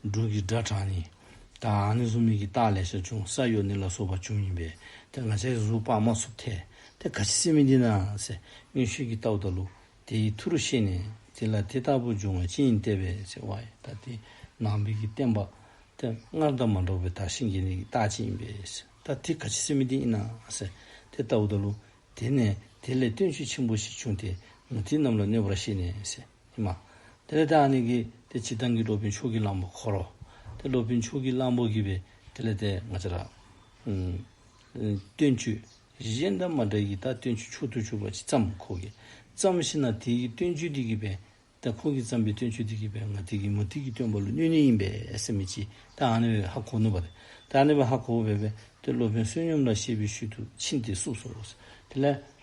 སྒྲུང་གི་སྒྲ་གྲངས་ནི། ད་ཨ་ནི་གཟུགས་མེད་ཀྱི་རྟགས་ལས་ཤ་ཆུང་ས་གཡོ་ནི་ལ་སོགས་པ་ཆུང་ཡིན་པས་དེ་ང་ཆ་ཡི་གཟུགས་དཔག་མ་སོགས་ཐལ། དེ་ག་ཅི་སྲིད་མི་འདི་ན་སེ་སྔོན་ཤུལ་གྱི་རྟ་བོ་དང་ལུག་དེ་ཡི་མཐུ་རུ་ཤེས་ནས་དེ་ལ་དེ་ལྟ་བུ་འབྱུང་བ་ཅི་ཡིན་བལྟས་པས་སེ་བ་ཡི་ད་དེ་ནང་པའི་གི་བསྟན་པ། དེ་སྔར་ད་མ་འགྲོགས་པའི་དག་ཤེས་འགལ་ནས་ཀྱི་རྟགས་ཅི་ཡིན་པས་སེ་ད་དེ་ག་ཅི་སྲིད་མི་འདི་ཡིན་ན་སེ་དེ་ལྟ་བུ་དང་ལུག་དེ་ནས་དེ་ལས་སྟོན་ཆོས་ཆེན་པོ་ཞིག་བྱུང་སྟེ་ང་དེ་རྣམས་ལ་གནོད་པར་ཤེས་ནས་སེ། ཨེ་མ། དེ་ལས་དེའང་ནི་གྱིས་ཏེ་ཇི་ལྟར་གྱི་སློབ་དཔོན་ཕྱུགས་ཀྱི་གླང་པོ་འཁོར་རོ། དེ་སློབ་དཔོན་ཕྱུགས་ཀྱི་གླང་པོ་གྱིས་པས་དེ་ལས་དེ་ང་ཅི་ར། སྟོན་མཆོད། གཞན་དང་མ་འདྲ་ཡི་དྭགས་སྟོན་མཆོད་མཆོག་ཏུ་གྱུར་པ་ཅི་ཙམ་ཁོ་གྱིས་བརྩམས་ཤེ་ན་དེ་ཡི་སྟོན་མཆོད་དེ་གྱིས་པས་དེ་ཁོ་གྱིས་བརྩམས་པའི་སྟོན་མཆོད་དེ་གྱིས་པས་ང་དེ་གྱིས་མོ་དེ་གྱིས་སྟོན་པ་ལ་སྣོད་ནི་ཡིན་པས་སེམས་མི་བྱེད་དེའང་ནི་བས་ཧ་གོ་ནུས་པ་རེད་དེའང་ནི་བས་ཧ་གོ་བོ་བས་པས་དེ་སློབ་དཔོན་བསོད་སྙོམས་ལ་ཤེས་པའི་ཤུལ་དུ་ཕྱིན་ཏེ་བསུབས་སོ། དེ་ལས།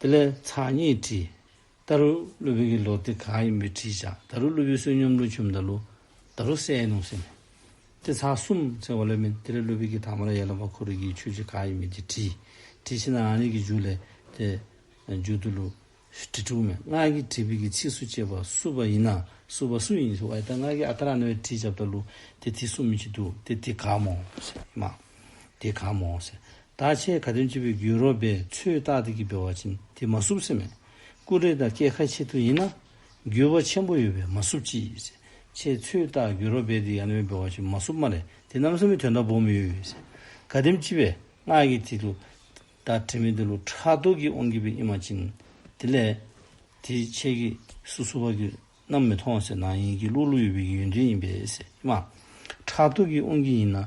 དེ་ལས་ཚགས་གཉིས་བྲིས། ད་རུ་ཀླུ་བོད་ཀྱི་ལོ་དེ་ག་ཡིན་པའི་དྲིས་བཞག་ད་རུ་ཀླུ་བོའི་བསོད་སྙོམས་ཀླུ་ཆུ་མདའ་ལུ། ད་རུ་སའི་ནང་སེམས། དེ་ཚགས་གསུམ་ཚེག་བ་ལོས་མིན་དེ་ལས་ཀླུ་བོད་ཀྱི་དྭངས་མ་ལ་ཡར་ལངས་པ་འཁོར་རིགས་ཀྱི་ཆོས་ཀྱི་ག་ཡིན་མིན་གྱི་དྲིས། དྲིས་ཕྱིན་ན་རང་ཉིད་ཀྱི་མཇུག་ལས་དེ། མཇུག་ཏུ་ལུ། དྲི་དྲུག་མེད་སྔགས་ཀྱི་དྲིས་བོད་ཀྱི་ཚིགས་སུ་བཅད་པ་བསུ་བ་ཡིན་ན་བསུ་བ་སུ་ཡིན་ཞུ་བ་ཨེ་ད་སྔགས་ཀྱི་ཨ་ད་ར་ནོ་ཡི་དྲིས་བྱབ་ད་ལུ་དེ་དེ་གསུམ་མི་བྱེད་དུ་དེ་དེ་ག་མོ། དེ་ག་མོ། ད་ཆའི་ག་དོན་སྤྱི་བོའི་རྒྱུད་རོལ་པའི་ཚུལ་བརྟགས་ཏེ་གྱི་བེ་བ་ཅན་དེ་མ་བསྲུབས་སེ་མེད། ཀུན་རིག་དང་སྐྱེ་ཁ་ཆེ་ཐུ་ཡིན་ན། རྒྱུད་བ་ཆེན་པོ་ཡོད་པས་མ་བསྲུབས་ཅིས། ཆའི་ཚུལ་བརྟགས་རྒྱུད་རོལ་པའི་དེ་ཡང་ན་བའི་བེ་བ་ཅན་མ་བསྲུབས་མ་རེད་དེ་རྣམ་གསུམ་པའི་དོན་དང་པོ་མི་ཡོད་ཡོད། ག་དོན་སྤྱི་བའི་སྔགས་ཀྱི་དེ་ལུགས། ད་དྲི་མེད་དེ་ལུགས་ཕྲག་དོག་གིས་དབང་གིས་པའི་ཨི་མ་ཅན། དེ་ལས། དེ་ཆའི་གི་སུ་སུ་བ་གི་རྣམ་མི་མཐོང་སེ་ན་ཡིན་གྱི་ལུགས་ལུགས་ཡོད་པའི་གི་ཡོན་ཏན་ཡིན་པས་སེ་མ། ཕྲག་དོག་གིས་དབང་གིས་ཡིན་ན།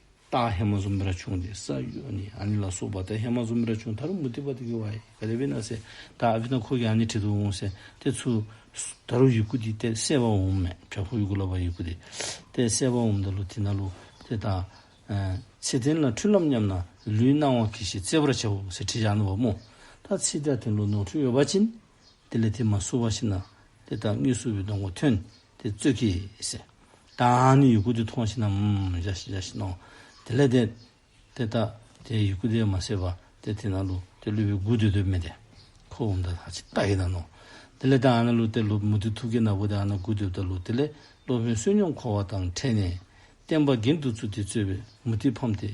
སྟག་ཧེ་མ་ཟུམ་ར་ཆུང་སྟེ་ས་ཡོ་ནི་ཨ་ནི་ལ་སོགས་པ་དང་ཧེ་མ་ཟུམ་ར་ཆུང་དར་མུ་ཏི་བ་དེ་གི་བ་ཡི་ག་ལེ་བི་ན་སེ་ད་ཨ་བི་ན་ཁོ་གི་ཨ་ནི་ཁྲི་དུ་འོང་སེ་ཏེ་ཚུ་ད་རུ་ཡི་གུ་དི་ཏེ་སེ་བ་འོང་མེ་ཁྲ་ཁུ་ཡི་གུ་ལ་བ་ཡི་གུ་དི་ཏེ་སེ་བ་འོང་ད་ལུ་དི་ན་ལུ་དེ་ད་ཚེ་དེན་ལ་འཁྲུལ་ལམ་ཉམས་ན་ལུའི་སྣང་བ་གི་ཞེས་བརྩེ་བར་བྱ་བ་འོང་སེ་ཁྲི་ཡ་ན་བ་མོ་ད་ཚེ་ད་དེན་ལུ་ནོར་འཁྲུལ་ཡོ་བ་ཅིན་དེ་ལས་དེ་མ་སུ་བ་ཤི་ན་དེ་ད་ངི་སུ་བི་ནོང་བ་ཐོན་དེ་རྩོད་ཀྱི། བདག་ནི་ཡུ་གུ་དེ་མཐོང་ཤེས་ན། དེ་ལས་དེ་དེ་དག་དེ་ཡུ་གུ་དེ་མ་ཟད་པ་དེ་དེ་ན་ལུ་དེ་ལུས་པའི་གུ་དེ་དུ་མེད་དེ། ཁོ་བོ་འདི་དག་ཅི་ལྟ་ཡིན་ན་ནོ། དེ་ལས་དེ་ཨ་ན་ལུ་དེ་ལུ་མུ་ཏིག་ཐུགས་ཀྱི་ནག་པོ་དེ་ཨ་ན་གུ་དེ་དུ་ལུ་དེ་ལས་སློབ་དཔོན་བསོད་སྙོམས་འཁོར་བ་དང་ཕྲད་ནས། བསྟན་པ་དགེ་འདུ་ཚུལ་དེ་རྩོད་པའི་མུ་ཏིག་ཕམ་སྟེ།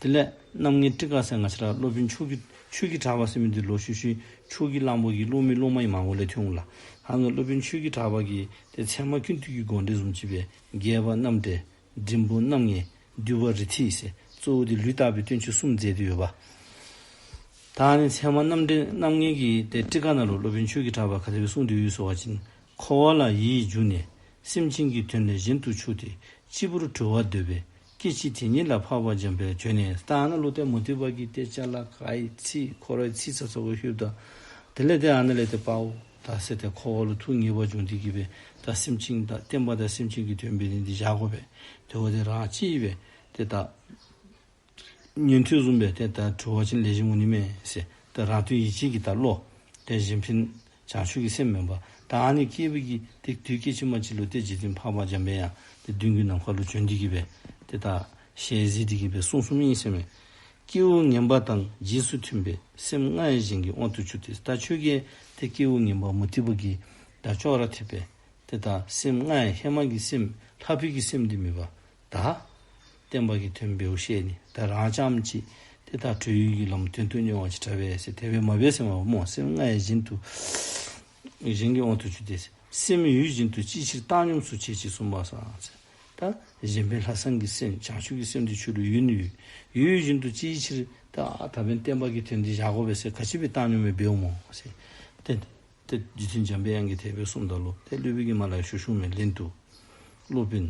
དེ་ལས་རྣམ་ལྔའི་སྤྲི་དཀར་སེར་ནག་ཕྱི་ར་སློབ་དཔོན་ཆོས་ཀྱི་ཆོས་ཀྱི་གྲགས་པ་སེར་མོ་འདི་ལོ་ཤུ་ཤུའི་ཆོས་ཀྱི་གླང་པོ་གྱི་སློབ་མའི་སློབ་མ་ཡི་མང་བོ་ལས་ཐོན་འོངས་ལ། ཧང་གི་སློབ་དཔོན་ཆོས་ཀྱི་གྲགས་པ་གྱིས་དེ་ཚད་མ་ཁྱོད་དུས་ཀྱི་དགོངས་འགྲེལ་གཟུངས་བྱེད་པའི་རྒྱལ་བ་རྣམས་ཏེ། འབྲིང་པོ་རྣམ་ལྔའི་བསྡུས་པ་རི་ཐིག་སེ་གཙོ་བོ་དེ་ལུས་བརྟགས་པའི་སྟོན་ཆོས་གསུམ་མཛད་དུ་ཡོད་པ། ད་ནི་ཚད་མ་རྣམ་འགྲེལ་རྣམ་ལྔའི་གྱི་དེ་སྤྲི་དཀར་ནག་ལུགས་སློབ་དཔོན་ཆོས་ཀྱི་གྲགས་པ་ག་ལེར་གསུང་དུས་ཡུལ་སོ་བ་ཅིང་འཁོར་བ་ལ་ཡིད་འཇུག་ནས་སེམས་ཅན་གྱི་དོན་ལས་གཞན་དུ་ཆུག་སྟེ་སྤྱི་བོར་གྲོལ་བར་འདོད་པས་སྐད་ཅིག་དེ་ཉིད་ལ་འཕགས་པ་འཇམ་དཔལ་བྱོན་ནས་ལྟ། ཨ་ན་ལུ་ཏའི་མུ་ཏིག་བར་གྱི་སྟེ་ལྕགས་ལ་ཀྭའི་ཚིལ་འཁོར་བའི་ཚིལ་ཚ་ཚ་བོ་ཤུར་དང། དེ་ལས་དེ་ཨ་ན་ལས་ཏེ་པའོ་དང་བསྲེས་ཏེ་འཁོར་བ་ལ་ཐུགས་ངེས་པར་འབྱུང་སྟེ་བགྱིས་པས་དང་སེམས་ཅན་དང་བསྟན་པ་དང་སེམས་ཅན་གྱི་དོན་དཔལ་ནི་འདི་བཞག་གོ་བས་དེ་བ་དེ་རང་ཅི་ཡི་བས་དེ་དག། ཉན་ཐོས་གསུམ་པའི་དེ་ལྟར་གྲོལ་བ་ཕྱིན་ལས་གཞན་ངོ་ནི་མེད། ཞེས་དེ་རང་དོན་ཡིད་བྱེད་ཀྱི་ལྟར་བློ། དེ་བཞིན་ཕྱིན་བྱང་ཆུབ་ཀྱི་སེམས་མིན་པ། དང་ནི་སྐྱེས་བུ་ཀྱི་དེ་དུས་སྐྱེ་འཆི་མ་མཆིས་ལུས་བརྟས་འཇིག་རྟེན་འཕགས་པ་འཇམ་དཔལ་ཡང་དེ་བདུན་གྱི་ནམ་མཁའ་ལུས་བྱོན་འདི་གྱིས་པས་དེ་དག། ཞལ་གཟིགས་འདི་གྱིས་པས་གསུང་གསུམ་ཡིན་ཞེས་སྨྲས། སྐྱེས་བུ་ངན་པ་དང་རྗེས་སུ་མཐུན་པའི་སེམས་ལྔའི་བཞིན་གྱི་དབང་དུ་ཆུག་སྟེ་ད་ཆོས་རྒྱལ་དེ་སྐྱེས་བུ་ངན་པ་མུ་སྟེགས་པ་གྱིས་ད་ཅོག་ར་ཐེབས་པས་དེ་དག་སེམས་ལྔའི་ཧེ་མ་གྱི་སེམས་ལྷ་ཕུད་ཀྱི་སེམས་འདི་མིན་པ་དག། བསྟན་པ་གྱི་དོན་བེའུ་ཤས་ནི་བདག་རང་བྱམས་ཀྱིས་དེ་དག་གྲོལ་ཡུལ་གྱི་ལམ་དོན་དུ་མྱོང་བ་ཅིག་བྲལ་བས་ཞེས་དེ་བས་མ་བས་སེམས་བ་མོ་སེམས་ལྔའི་བཞིན་དུ་གཞན་གྱི་དབང་དུ་བྱོས་ཏེ། སེམས་ཡུལ་བཞིན་དུ་ཅིའི་ཕྱིར་བཏང་སྙོམས་སུ་བྱེད་ཅེས་གསུངས་པ་སང་ཟིན་དང་གཞན་ཕན་ལྷག་བསམ་གྱི་སེམས་བྱང་ཆུབ་ཀྱི་སེམས་འདི་ཆོས་ལུགས་ཡུལ་ནི་ཡུལ་ཡུལ་བཞིན་དུ་ཅིའི་ཕྱིར། ད་བེན་བསྟན་པ་གྱི་དོན་འདི་བཞག་གོ་བས་ཞེས་ག་ཅི་བས་བཏང་སྙོམས་པའི་བེའུ་མོ་ཞེས་བསྟན་ཏེ། ཏེ། རྗེ་བཙུན་འཇམ་པའི་དབྱངས་ཀྱིས་དད་པའི་གསུང་དང་ལོ་ཏའི་གླུས་བོད་ཀྱི་མ་ལག་ཞུ་བཞུགས་མའི་ལན་དུ། ཀླུ་དཔོན།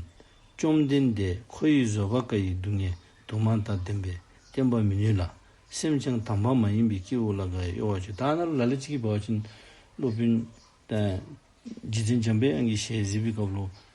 བཅོམ་ལྡན་འདས་ཁོ་ཡི་བཟོད་པ་བཀའ་ཡི་སྡུག་བསྔལ་དུ་མ་དང་ལྡན་པས་བསྟེན་པར་མི་ནུས་ལ། སེམས་ཅན་དམ་པ་མ་ཡིན་པའི་སྐྱེ་བོ་ལ་འགའ་ཡང་གཡོ་བ་བྱེད་ད་ནི་ལ་ལས་ཅི་བགྱི་བར་བྱིན། ཀླུ་དཔོན། རྗེ་བཙུན་འཇམ་པའི་དབྱངས་ཀྱི་ཞལ་གཟིགས་པའི་སྐབས་ལོ།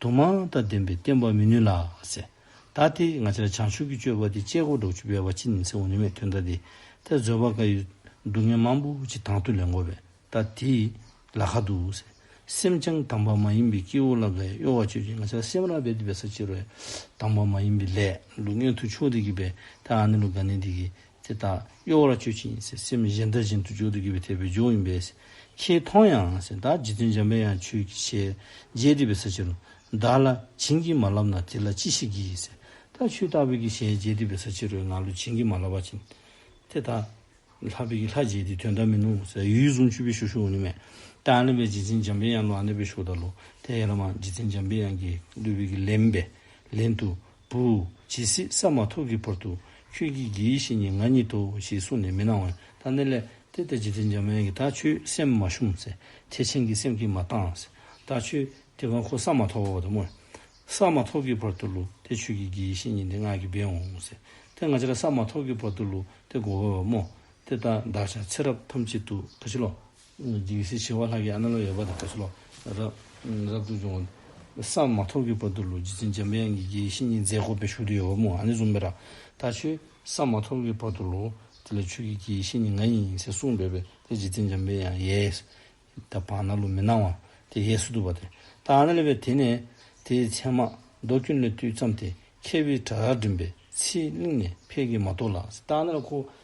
དུ་མ་དང་ལྡན་པས་བསྟན་པར་མི་ནུས་ལ། ཟད་ད་དེ་ང་ཅག་བྱང་ཆུབ་ཀྱི་སྤྱོད་པ་འདི་སྤྱད་གོ་སྒྲོག་ཅུ་པའི་བ་ཅི་ནི་ཚེའུ་ནུས་མེད་དུས་ད་དེ་ད་བཟོད་པར་དཀའ་ཡུལ། སྡུག་བསྔལ་མང་པོ་ཅི་དང་དུ་ལེན་གོ་བས་ད་དེ་ལ་ཁ་དུ། སེམས་ཅན་དམ་པ་མ་ཡིན་པའི་སྐྱེ་བོ་ལ་དགའི་གཡོ་བ་སྤྱོད་ཅིང་ང་ཅག་སེམས་རང་བས་སྡུད་པའི་ས་བཅད་རོལ། དམ་པ་མ་ཡིན་པའི་ལས་སྡུག་བསྔལ་དུ་ཆོས་འདི་གི་བས་ད་ཨ་ནི་ལོ་དགའ་ནི་འདི་གི་དེ་དག་གཡོ་བར་སྤྱོད་ཅིང་སེམས་གཞན་དག་བཞིན་དུ་འཇུག་ཏུ་གྱུར་པའི་ཐེག་པའི་རྒྱུ་ཡིན་པས། ཁྱེད་མཐོང་ཡང་བདག་རྗེ་བཙུན་འཇམ་དཔལ་ཡང་ཆོས་ཀྱི་ཞལ་མཇལ་བདེ་བའི་ས་ཆེན་རུ། བདག་ལ་བྱིན་གྱིས་མ་བརླབས་ན་དེ་ལ་ཅི་ཞིག་བགྱིས། ད་ཆོས་བདག་བོད་ཀྱི་ཞལ་མཇལ་བདེ་བའི་ས་ཆེན་རུ་ང་ལོ་བྱིན་གྱིས་མ་བརླབས་པ་བྱིན། དེ་དག་ལྷ་བོད་ཀྱི་ལྷ་རྗེ་འདི་དོན་དག་མིན་ནོ། ཡུལ་གཟུངས་ཆུ་བོའི་ཞོ་ཞུ་འོ་ནི་མེད། དང་ལེན་པའི་རྗེ་བཙུན་འཇམ་དཔལ་ཡང་ལོ་ཨ་ནེ་པའི་ཞོ་དང་ལོ་དེ་ཡན་ལག་མ་རྗེ་བཙུན་འཇམ་དཔལ་ཡང་གི་ལུས་བོད་ཀྱི་ལེན་པས་ལེན་དུ་བུ། ཇི་སྲིད་ས་མ་ཐོབ་ཀྱི་བར་དུ་ཁྱོད་ཀྱིས་དགེ་བཤེས་ཉིད་ང་ཉིད་དོ་ཞེས་གསུངས་ནས་མི་སྣང་བས་ད་ནི་ལས་འདི་ལྟ་ཅི་སྟེ་འཇམ་དབྱངས་ཀྱིས་ད་ཁྱོད་སེམས་མ་ཞུམ་ཚེ་ཐེག་ཆེན་གྱི་སེམས་ཀྱིས་མ་བཏང། ད་ཁྱོད་དེ་གང་ཁོ་ས་མ་ཐོབ་བར་དུ་བསྔོས། ས་མ་ཐོབ་ཀྱི་བར་དུ་ལུས་དེ་ཁྱོད་ཀྱི་དགེ་བཤེས་ཉིད་འདི་སྔགས་ཀྱི་སྦས་འོང་ཚེ་དེ་ང་ཅག་ས་མ་ཐོབ་ཀྱི་བར་དུ་ལུས་དེ་བསྒོ་བས་བ་མོ་དེ་ད་བདག་ཅག་ཚེ་རབས་ཐམས་ཅད་དུ་ག་ཕྱི་ལོག་སྡིག་སེལ་བྱེ་བ་ལྷག་གི་ཨ་ན་ལོ་ཡབ་བ་དང་བྲལ་ལོ། རབ་ཏུ་བྱུང། བསམ་མ་ཐོག་གི་བར་དུ་ལུས་སྦྱིན་འཇམ་དབྱངས་ཀྱི་དགྱེས་བཞིན་ཉིན་མཛད་ཁོ་པའི་ཞུགས་དུས་ཡོད་པ་མོ་ཨ་ནི་བཟུང་བས་ར་ད་ཆོས། བསམ་མ་ཐོག་གི་བར་དུ་ལོ། དེ་ལ་ཆོས་ཀྱི་དགྱེས་བཞིན་ནི་ང་ཡིན་ཡིན་ཚེ་གསུངས་པས་པས་དེ་རྗེ་བཙུན་འཇམ་དཔལ་ཡང་ཡས། ད་བང་ན་ལོ་མི་སྣང་བ། དེ་ཡས་སུ་འདུག་པ་དེ། ད་ཨ་ན་ལོ་བས་དེ་ནས། དེའི་མཚན་མ། རྡོ་སྐྱོན་ལས་བཏུས་བརྩམས་ཏེ། མཁས་པའི་བྲག་ར་འགྲིམས་པའི། ཚེའི་གླིང་ནས་ཕས་ཀྱི་མ་ཐོག་ལ། ད་ཨ་ན་ལོ་ཁོ།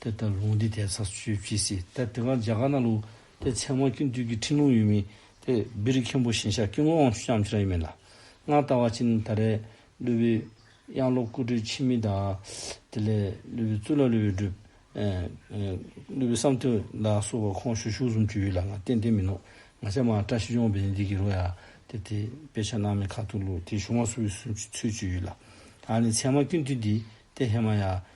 དེ་ལྟར་ལུང་འདི་དེ་ཚ་ཆུ་བྱི་སི་ཏྭ་སྟེ་གང་བྱ་ག་ན་ལུགས་ཏེ་མཚན་མ་ཀུན་བཏུས་ཀྱི་ཕྲིན་ལུང་ཡོད་མིན་ཏེ་བི་རི་མཁན་པོ་ཞིང་ཞག་དཀྱིལ་འཁོར་དབང་ཕྱུག་ལྕམ་ཕྱི་ར་ཡིན་མིན་ལ་སྔར་ལྟ་བ་ཅི་ནི་ད་རེས་ཀླུ་བི་གཡང་ལོ་སྐུ་སྤྲུལ་འཆི་མེད་དང། དེ་ལས་ཀླུ་བི་གཙུག་ལག་ཀླུ་བི་སྒྲུབ། ཀླུ་བི་བསམ་དོན་ལ་སོགས་པ་ཁོང་ཞུ་ཞུགས་གསུམ་བཅུ་ཡོད་ལ་ང་བསྟན་བསྟན་མིན་ནོ། ང་ཆ་མ་བཀྲ་ཤིས་ལྗོངས་བི་རི་འདི་གི་རོ་ཡ་དེ་དེ་དཔེ་ཆ་སྣང་མེད་ཁ་ཐུག་ལུགས་དེ་གཞུང་བ་སུ་བི་སུ་ཚུལ་བཅུ་ཡོད་ལ། ད་ནི་མཚན་མ་ཀུན་བཏུས་འདི་སྟེ་ཧེ་མ་ཡ།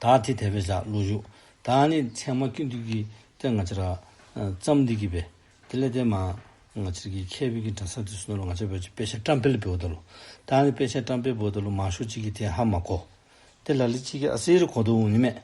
དག་ཐིག་དད་པས་བཞག་བློ་གཞུག། དང་ནི་མཚན་མ་སྐྱོན་བདུད་ཀྱི་སྟེ་ང་ཅི་ར། བརྩམས་འདི་གྱིས་པས་དེ་ལས་འདས་མ། ང་ཅིར་གྱིས་མཁས་པའི་གྱི་དྲན་ས་དུས་སུ་ནོར་ལོ་ང་ཅི་བོད་ཀྱི་དཔེ་ཆ་བཀྲམ་སྤེལ་བོད་ད་ལོ། དང་ནི་དཔེ་ཆ་བཀྲམ་སྤེལ་བོད་ད་ལོ་མང་ཤོས་གཅིག་གིས་དེ་ཧ་མ་གོ། དེ་ལ་ལི་གཅིག་གིས་ཨ་སེ་རི་གོ་དོ་འུ་ནི་མེད།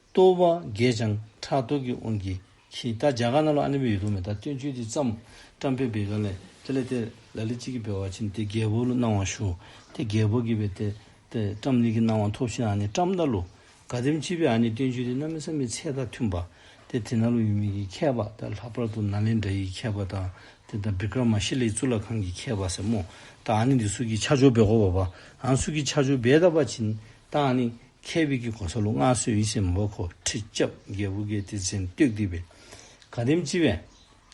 ལྟོ་བ་རྒས་ཀྱང་ཁྲག་ལྟོ་གིས་དབུང་གིས་ཕྱིན། ད་རྒྱ་གར་ན་ལོ་ཨ་ནེ་བོད་ཡོད་དུ་མེད་ད་སྟོན་ཆོས་འདི་བརྩམས། བཀྲམ་པའི་བེ་ག་ལས། དེ་ལས་དེ། ལ་ལི་གཅིག་གིས་བེ་བ་ཕྱིན། དེ་རྒྱལ་པོ་ལོ་གནང་བ་ཞུ། དེ་རྒྱལ་པོ་གིས་བེ་དེ། དེ་བཀྲམ་ལི་གིས་གནང་བ་ཐོབ་ཕྱིན་ཨ་ནེ་བཀྲམ་ད་ལོ། ག་དེམ་ཅི་བེ་ཨ་ནེ་སྟོན་ཆོས་འདི་གནའ་མི་ས་མི་ཚད་དང་མཐུན་པ། དེ་དེ་ན་ལོ་ཡུལ་མི་གིས་མཁས་པ་ད་ལྷག་པར་དུ་ན་ལེནྡྲ་ཡིས་མཁས་པ་དང། དེ་ད་བི་ཀྲ་མ་ཤི་ལའི་གཙུག་ལག་ཁང་གིས་མཁས་པ་ཟེར་མོད། ད་ཨ་ནེ་འདི་སུ་གིས་ཕྱག་འཇོག་བེ་གོ་བ་བ། ཨང་སུ་གིས་ཕྱག་འཇོག་བེ་ད་བ་ཕྱིན། དང་ནི། མཁས་པའི་དཀྱིལ་འཁོར་ས་ལུ་མངའ་གསོལ་ཡིད་བཞིན་མ་བབས་འཁོར་ཁྲི་ལྕགས་བརྒྱད་བུ་གའི་གཏེར་ཆེན་བསྟོད་བསྡུས་པའི། ག་དམ་སྤྱི་བའི།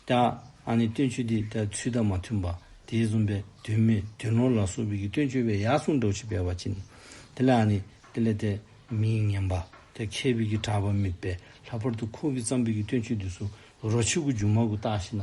དང་ནི་སྟོན་མཆོད་འདི་ལྟར་ཚུལ་དང་མ་མཐུན་པ། དེའི་བཟུང་བས་དོན་མེད་དོན་ནོར་ལ་སོགས་པའི་སྟོན་མཆོད་པའི་ཡར་གསུངས་སྒྲོགས་བྱེད་པའི་བར་གྱིས་ནི། དེ་ལ་ནི། དེ་ལས་དེ་མི་ཉན་པ། དེ་མཁས་པའི་གྲགས་པ་མེད་པས་ལྷག་པར་དུ་ཁོང་གི་བརྩམས་པའི་སྟོན་མཆོད་འདི་སུ་རོ་ཕྱི་དགུ་མཇུག་མ་དགུ་བཏགས་ཤེ་ན་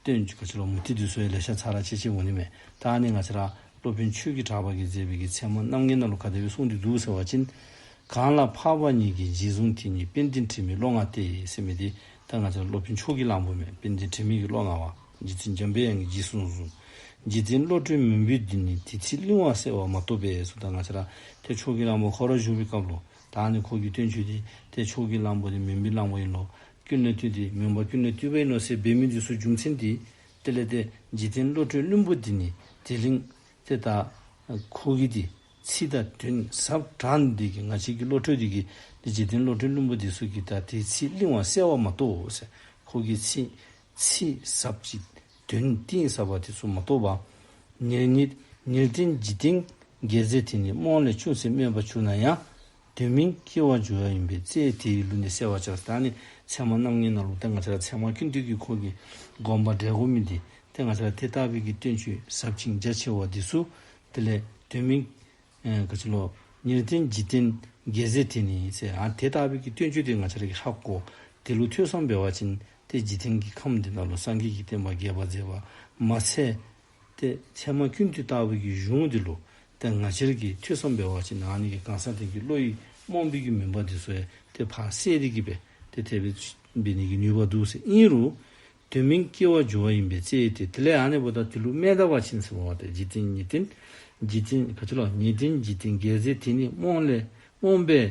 སྟོན། ག་ཕྱི་ལོ་མུ་ཏིག་དུས་སོའི་ལས་ཤ་ཚ་ར་ཆེ་ཆེ་འོ་ནི་མེ་ད་ནི་ང་ཚ་ར། སློབ་དཔོན་ཆོས་ཀྱི་གྲགས་པ་གིས་མཛད་པའི་གི་མཚན་མོ་རྣམ་ངེས་ན་ལོ་ག་དེ་བས་གསུངས་འདི་འདུག་ཟེར་བ་ཅན། གང་ལ་འཕགས་པ་ཉིད་ཀྱིས་རྗེས་བཟུང་དེ་ཉིད་དཔལ་ལྡན་དྲི་མེད་བློ་མངའ་སྟེ་སེམས་མེད་དེ་ད་ང་ཚ་ར་སློབ་དཔོན་མཆོག་གིས་གླང་པོ་མེད་དཔལ་ལྡན་དྲི་མེད་ཀྱི་བློ་མངའ་བ། རྗེ་བཙུན་འཇམ་པའི་དབྱངས་ཀྱིས་རྗེས་བཟུང་གསུངས། རྗེ་བཙུན་བློ་གྲོས་མུན་པོས་འདི་ནི་དེ་ཚེ་གླིང་བ་གསལ་བར་མ་ཐོབ་པས་སུ་ད་ང་ཚ་ར་དེ་མཆོག་གི་གླང་པོ་ཁོ་ར་བཞུགས་པའི་སྐབས་ལོ་ད་ནི་ཁོ་གིས་སྟོན་ཆོས་དེ་དེ་མཆོག་གི་གླང་པོ་དེ་མུན་པའི་གླང་པོ་ཡིན་ལོ་སྐྱུར་ནད་བཏུས་ཏེ་མིང་བ་སྐྱུར་ནད་བཏུས་བའི་ནོར་སྲེད་འབད་མི་འདུས་སོ་རྒྱུ་མཚན་འདི། དེ་ལས་ཏེ་འཇིག་རྟེན་བློ་གྲོས་བླུན་པོ་འདི་ནི་དེ་ལིང། དེ་ལྟ། ཁུ་གེ་འདི། ཚིག་དང་དོན་ཟབ་དྲག་འདི་དེ་གི་ང་བྱེད་ཀྱི་བློ་གྲོས་འདི་གི། འདི་འཇིག་རྟེན་བློ་གྲོས་བླུན་པོ་འདི་སུ་གི་ད་དེའི་ཚིག་བརླིང་བ་གསལ་བ་མ་གཏོགས། ཁུ་གེ་ཚིག། ཚིག་ཟབ་ཅིག། དོན་གཏིང་ཟབ་པ་དེ་སུ་མ་གཏོགས་པ། ཉེར་གཉིས། ཉེར་བདུན་འཇིག་རྟེན་འགལ་ཟེར་དེ་ནི་རྨོངས་ལས་ཅུང་ཟད་སྨོས་པ་བྱུང་ན་ཡང། དེ་མིན་སྐྱེ་བ་འཇུ་བ་ཡིན་པས་རྩའི་དེའི་ལུས་ནི་གསལ་བར་བྱ། ད་ནི་ཚད་མ་རྣམ་ལྔའི་ནང་ལུགས་ཏེ་ང་ཚ་ལ་ཚད་མ་ཀུན་བཏུས་ཀྱི་འཁོར་གྱི་སྒོམ་པ་འབྲས་བུ་མིན་ཏེ་ཏེ་ང་ཚ་ལ་དེ་ལྟ་བུའི་གི་སྟོན་ཆུད་ཟབ་ཅིང་རྒྱ་ཆེ་བ་འདི་སུ། དེ་ལས་དོན་མིན། ག་ཅི་ལོ། ཉེར་བསྟན་འཇིག་རྟེན་རྒྱལ་སྲས་དེ་ནི་ཚེ་འང་དེ་ལྟ་བུའི་གི་སྟོན་ཆུད་དེ་ང་ཚ་ལ་གི་ཧ་གོ། དེ་ལུགས་ཐོས་བསམ་བས་བ་ཅན་ཏེ་འཇིག་རྟེན་གྱི་ཁམས་འདི་དག་ལ་སངས་རྒྱས་ཀྱི་བསྟན་པ་རྒྱས་པར་མཛད་པ་མ་ཚད། སྟེ། མཚན་མ་ཀུན་འདུས་ལྟ་བུ་ཀྱི་གཞུང་འདི་ལོ་ཏའི་ང་ཕྱིར་གྱི་ཐོས་བསམ་པའི་བར་གྱི་ནང་ནས་ཀྱི་གང་ཟག་དོན་གྱི་བློ་ཡིས་རྨོངས་པའི་རྒྱུ་མིན་པ་འདི་སོ་ཡ་དེ་བར་གསལ་རིག་གི་པས་དེ་ཐེག་པའི་པའི་ནས་ཀྱི་ནུས་པ་འདུག་ཟེར་གཉིས་རུ། དོན་མིན་སྐྱེ་བ་སྦྱོར་བ་ཡིན་པའི་རྩེ་ཡི་དེ་དེ་ལས་ཨ་ནེ་བོ་ད་དེ་ལུགས་མེད་ལྟ་བར་ཕྱིན་ཟེར་བ་བ་དེ་འཇིག་རྟེན་ཉིད་རྟེན་འཇིག་རྟེན་ག་དུས་ལ་ཉིད་རྟེན་འཇིག་རྟེན་འགལ་ཟེར་དེ་ནི་རྨོངས་ལས་རྨོངས་པས་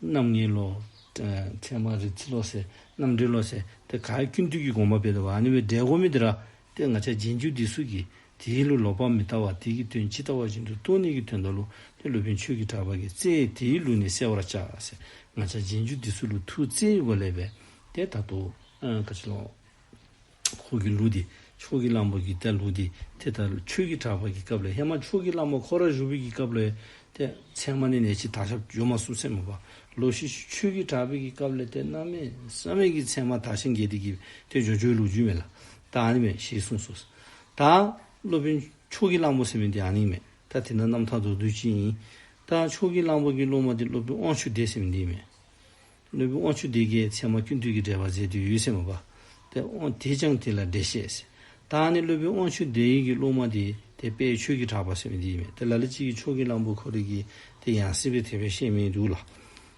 རྣམ་ངེས་བློ། ཚད་མ་རིག་འཛིན་བློ། རྣམ་འགྲེལ་བློ། དེ་ག་ཀུན་བཏུས་ཀྱི་དགོངས་པ་སྤེལ་བ་ནི་བའི་སྒྲའི་སྒོ་མི་དེ་ར་སྟེ་ང་ཆ་རྗེས་འཇུག་འདི་སུ་གི་དེའི་ལུགས་ལོག་པར་མི་ལྟ་བར་དེ་ཀྱི་དོན་ཇི་ལྟ་བ་བཞིན་དུ་སྟོང་ཉིད་ཀྱི་དོན་དང་ལུགས་ནི་སློབ་དཔོན་ཆོས་ཀྱི་གྲགས་པ་ཀྱི་རྩེ་ཡིས་དེའི་ལུགས་ནི་གསལ་བར་བྱ། ང་ཆ་རྗེས་འཇུག་འདི་སུ་ལུགས་ཐུགས་བརྩེའི་སྒོ་ལས་པས་དེ་ལྟར་དུ། འཁོར་གྱི་ལུགས་འདི་ཕྱོགས་ཀྱི་གླང་པོ་གྱི་སྟེ་ལུགས་འདི་དེ་ལྟར་ལ་ཆོས་ཀྱི་གྲགས་པ་གྱི་སྐབས་ལས་ཧེ་མ་ཕྱོགས་ཀྱི་གླང་པོ་ཁོ་ར་ཧྲུ་བི་གྱི་སྐབས་ལས་ཏེ། མཚན་མ་ནི་ནད་ཀྱི་དག་ཞབས་ཡོད་མ་སུ་མཚན་མ་པ་ལོ་ཤི་ཤི་ཆོས་ཀྱི་གྲགས་པའི་གྱི་སྐབས་ལས་ཏེ་མནའ་མས་བསམ་མེད་ཀྱི་མཚན་མ་དག་ཤིང་གྱེས་ཏེ་གྱིས་ཏེ་ཇོ་ཇོའི་ལུགས་རྒྱུད་མེད་ལ་ད་ཨ་ནི་མེད་ཞེས་གསུངས་སོ། ད་སློབ་དཔོན་ཕྱོགས་ཀྱི་གླང་པོ་སེམས་མེད་དེ་ཨ་ནི་མེད་ད་དེ་ན་རྣམ་ཐར་རྡོར་བསྡུས་ཅི་ཡིན། ད་ཕྱོགས་ཀྱི་གླང་པོ་གྱི་སློབ་མ་དེ་སློབ་དཔོན་དབང་ཕྱུག་སྡེས་སེམས་མེད་འདི་མེད། གནོད་པའི་དབང་ཕྱུག་དེ་ཀའི་མཚན་མ་ཀུན་བཏུས་ཀྱི་འགྲེལ་པར་མཛད་དུས་ཡུལ་སེམས་དཔའ་སྟེ། དེས་ཀྱང་དེ་ལ་འགྲེལ་བཤད་བྱས། ད་ནི་གནོད་པའི་དབང་ཕྱུག་དེ་ཡི་གི་སློབ་མ་དེ་དེ་དཔེའི་ཆོས་ཀྱིས་གྲགས་པར་སེམས་འདི་ཡིན་མོད་དེ་ལ་ལ་གཅིག་གིས་ཕྱོགས་ཀྱི་གླང་པོ་ཁོ་རེ་གིས་དེ་ཡང་སྲིད་པའི་ཐེག་པའི་ཤེས་མིན་འདུག་ལ།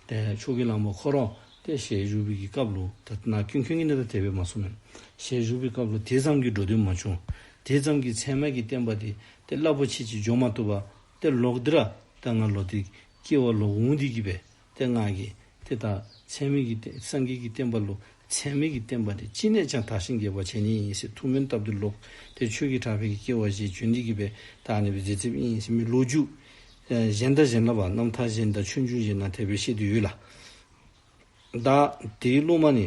ཕྱོགས་ཀྱི་གླང་པོ་ཁོ་རང་སྟེ་ཞེས་ཞུ་བའི་གི་སྐབས་ལོ་ད་ན་ཀུན་མཁྱེན་གྱི་གནས་ཐ་དད་པས་མ་གསུངས་མོད། ཞེས་ཞུ་བའི་སྐབས་ལོ་དེ་ཙམ་གྱི་འགྲོ་དོན་མ་བྱུང། དེ་ཙམ་གྱི་མཚན་མ་གི་བསྟན་པ་དེ་དེ་རླབས་པོ་ཆེ་གཅིག་འཇོག་མ་ཐུབ་པ་སྟེ་ལོག་འདི་ར་ད་ང་ལོ་དེ་སྐྱེ་བ་ལོག་འོང་འདི་གི་བས་སྟེ། སྔགས་ཀྱི་སྟེ་དང། ཚད་མེད་ཀྱི་སྟེ་སངས་རྒྱས་ཀྱི་བསྟན་པ་ལོ། ཚད་མེད་ཀྱི་བསྟན་པ་དེ་ཅི་ནས་ཀྱང་དག་ཞིང་རྒྱས་པར་བྱེད་ཉིད་ཡིན་སྲིད་ཐུགས་སྨོན་སྟབས་བདེ་ལོག་ལྟའི་ཆོས་ཀྱི་གྲགས་ཕལ་གྱི་སྐྱེ་བ་བཞིའི་བརྗོད་འདི་གྱིས་པའི་དག་ནི་བའི་རྫས་ཚིམ་ཡིན་སྲིད་མི་ལོ་རྒྱུས། གཞན་དག་གཞན་ལ་བ་རྣམས་མཐའ་གཞན་དང་ཆོས་འབྱུང་གཞན་ན་དད་པའི་བཤད་དུ་ཡོད་ལ། བདག་དེའི་སློབ་མ་ནི།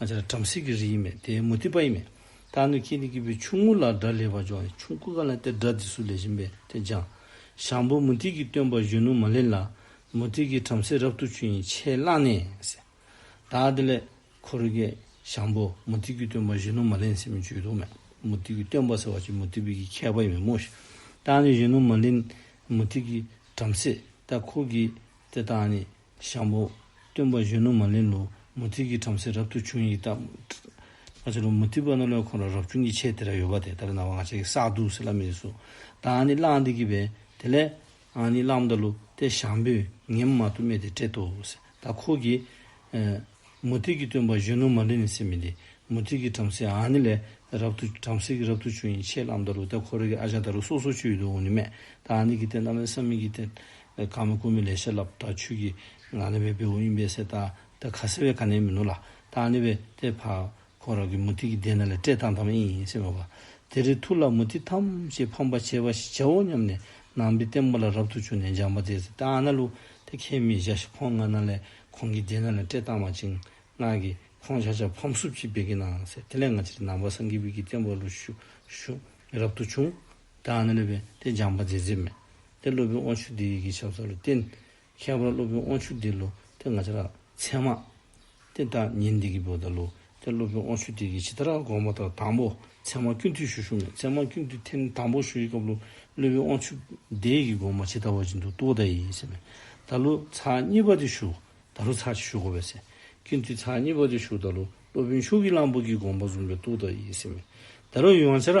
ང་ཅག་ལ་བྲམ་ཟེ་གི་རིས་ཡིན་མོད་དེའི་མུ་སྟེགས་པ་ཡིན་མོད། ད་ནི་ཁྱེད་ནི་སྐྱེས་བུའི་ཆུང་ངུ་ལ་སྒྲ་ལེགས་པར་སྦྱོང་ཡང་ཆུང་སྐུ་གང་ལས་དེ་སྒྲ་འདི་སུ་ལས་བཞིན་པས་དེ་སྦྱང། ཞང་པོ་མུ་སྟེགས་ཀྱི་སྟོན་པ་གཞོན་ནུ་མ་ལེན་ལ། མུ་སྟེགས་ཀྱིས་བྲམ་ཟེ་རབ་ཏུ་ཆུ་ཡིན་ཕྱེ་བླངས་ནས། བདག་དེ་ལས། འཁོར་བསྐྱེད། ཞང་པོ་མུ་སྟེགས་ཀྱི་སྟོན་པ་གཞོན་ནུ་མ་ལེན་ཟེར་མི་བརྗོད་དོ་སྨྲས། མུ་སྟེགས་ཀྱི་སྟོན་པ་ཟེར་བ་ཅི་མུ་སྟེགས་པའི་གི་མཁས་པ་ཡིན་མོད་སྨྲོས་ཤིག། ད་ནི་གཞོན་ནུ་མ་ལེན། མུ་སྟེགས་ཀྱིས་བྲམ་ཟེ། ད་ཁོ་གིས། དེ་དག་ནི། ཤམ་བོ། སྟོན་པ་གཞོན་ནུ་མ་ལེན་ལོ། མུ་སྟེགས་ཀྱི་བྲམ་ཟེ་རབ་ཏུ་བྱུང་ཡིད་བརྟག། ང་ཅག་ལོ་མུ་སྟེགས་པ་རྣམས་ལ་ཁོང་རང་རབ་བྱུང་གི་ཆས་དེ་ར་ཡོད་པ་དེ་ལྟར་སྣང་བ་ང་ཅག་གི་བསགས་སྡུག་ཟེར་ལ་མི་རེ་ཟུང་དང་ནི་གླང་འདི་གི་བས་དེ་ལས། ཨང་ནི་གླང་མདའ་ལོ་སྟེ་ཤམ་བོས་ངེད་མ་དུ་སྨྲས་ཏེ་བསྐྲད་དོ། ད་ཁོ་གིས། མུ་སྟེགས་ཀྱི་སྟོན་པ་གཞོན་ནུ་མ་ལེན་ནི་སེམས་མི་བདེ། མུ་སྟེགས་ཀྱི་བྲམ་ཟེ་ཨང་ནི་ལས། རབ་ཏུ་བྲམ་ཟེ་གི་རབ་ཏུ་བྱུང་ཡི་ཆས་གླང་མདའ་ལོ་སྟེ་ཁོ་ར་གི་ཨ་ཅག་ད་རུ་སོ་སོ་ཆུ་ཡི་དུ་འོང་ནི་སྨྲས། ད་ཨང་ནི་གི་སྟེ་རྣམ་སྨིན་སམ་མིན་གྱི་སྟེ། ཀར་མ་ཀུན་མི་ལས་ཤེས་རླབས་དག་ཆོས་ཀྱི། ལ་ལས་འོད་པའི་འོད་ཡིན་པས་གསལ། ད་ལྟ་ཁ་ཟེར་བའི་ཁ་ནས་མི་ནོར་ལ། ད་ནི་བས་ཏེ་བར་ཁོ་རང་གི་མུ་ཏིག་གི་གདན་ན་ལས་བཀྲས་བཏང་ཐམས་ཨེ་ཡིན་སེམས་མོས་པ། དེ་རིང་ཐུགས་ལ་མུ་ཏིག་ཐམས་ཅད་ཕམ་པར་བྱས་པ་ཞིག་བྱའོ་སྙམ་ནས་ནང་པའི་བསྟན་པ་ལ་རབ་ཏུ་བྱུང་ནས་འཇམ་པ་དེས་ད་ཨ་ན་ལུ་ཏེ་ཁྱེད་མི་བཞག་ཤིག་ཁོང་ང་ན་ལས་ཁོང་གི་གདན་ན་ལས་བཀྲས་བཏང་བ་ཅིང་སྔགས་ཀྱིས་ཁོང་བྱ་བྱ་ཕམ་སུབ་ཅིག་བེད་ཀྱི་ནང་ཟེར་དེ་ལས་ང་ཅིག་ནང་པ་སངས་རྒྱས་བིད་ཀྱི་བསྟན་པ་ལུ་ཞུ་ཞུ་རབ་ཏུ་བྱུང། དང་ནི་ལུས་པའི་སྟེ་སྦྱངས་པ་མཛེས་མཛེས་མས། ཏེ་སློབ་དཔོན་དབང་ཕྱུག་འདི་ཡི་གི་ཞབས་སོགས་ལ་བརྟེན། ཁྱད་པར་སློབ་དཔོན་དབང་ཕྱུག་འདི་ལོ་སྟེ་ང་ཅག་ལ་མཚན་མ། ཏེ་བདག་ཉིད་འདི་གི་བུ་དང་ལོ་སྟེ་སློབ་དཔོན་དབང་ཕྱུག་འདི་གི་ཇི་ལྟར་དགོངས་པ་ལྟར་དང་པོ་མཚན་མ་ཀུན་བཏུས་ཞུ་ཞུ་ནས་མཚན་མ་ཀུན་བཏུས་ཐེམ་ནི་དང་པོ་ཞུ་ཡི་སྐབས་ལོ་སློབ་དཔོན་དབང་ཕྱུག་འདི་ཡི་གི་དགོངས་པ་ཇི་ལྟ་བ་བཞིན་དུ་བཏུ་བ་ད་ཡིན་ཟེར་མས། ད་ལོ་ཚགས་གཉིས་པ་འདི་ཞུ། ད་ལོ་ཚགས་གཅིག་ཞུ་གོ་བས་ཟེར། ཀུན་བཏུས་ཚགས་གཉིས་པ་འདི་ཞུ་ད་ལོ་སློབ་དཔོན་ཕྱུག་གི་གླང་པོ་གི་དགོངས་པ་བཟུང་བས་བཏུ་ད་ཡིན་ཟེར་མས། ད་ལོ་ཡང་ཅི་ར།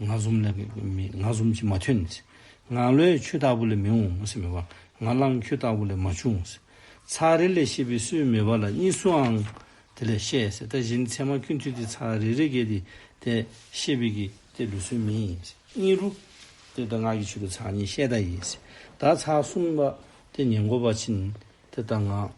ངག་གསུམ་ལས་ངག་གསུམ་གྱིས་མ་ཐོན། ངག་བློའི་ཆུ་ལྟ་བུ་ལས་མི་འོང་ངག་རླངས་ཁྱུ་ལྟ་བུ་ལས་མ་བྱུང། ཚགས་རེ་ལས་ཤེས་པའི་སུའི་མོས་པ་ལ་གཉིས་སུའང་དེ་ལས་ཤེས། ལྟ་བཞིན་ཚད་མ་ཁྱུ་མཐུད་དེ་ཚགས་རེ་རེ་བརྒལ་ཏེ་དེ་ཤེས་པས་ཀྱི་དེ་ལུས་སུའི་མིན། གཉིས་རུ། དེ་ལྟར་ངག་གི་ཆུ་ལ་ཚགས་གཉིས་ཤེས་ལྟ་ཡིས། བདག་ཚགས་གསུམ་པ་དེ་ཉེ་འགོ་བ་ཕྱིན། དེ་ལྟར་ངག།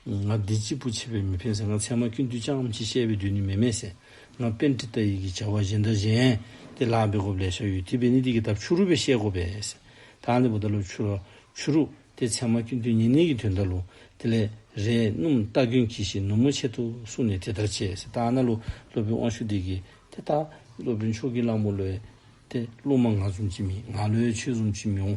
ང་བདེ་སྐྱིད་པོ་བྱེད་པའི་མི་ཕན་ཟེར་ང་ཚད་མ་ཁྱོད་འདུས་ཅང་མི་བྱེད་བཤད་པའི་དུས་ནི་མེད་མེད་ཟེར་ང་དཔེ་འདི་ལྟ་ཡི་གི་བྱ་བ་གཞན་དག་གཞན། དེ་ལགས་པས་གོ་བ་ལས་ཤར་ཡོད་དེ་བས་ནི་དེ་གི་ཐབས་ཆུ་རུ་བས་བཤད་གོ་བས། ད་འདི་བོ་ད་ལོ་ཆུ་རུ། ཆུ་རུ། དེ་ཚད་མ་ཁྱོད་འདུས་ཉེ་གནས་གི་དོན་ད་ལོ། དེ་ལས། རས་སྣུམ་རྟ་གྱོན་གྱིས་ཤིག་ནུབ་མོ་ཆེ་ཐུ་གསུང་ནས་དེ་ལྟར་བྱས། ད་ན་ལོ་སློབ་དཔོན་དབང་ཕྱུག་དེ་གི། དེ་ལྟ། སློབ་དཔོན་མཆོག་གི་གླང་པོ་ལོས། དེ་སློབ་མ་ང་ཟུམ་གྱིས་མི་ང་ལོས་ཆོས་ཟུམ་གྱིས་མི་འོང།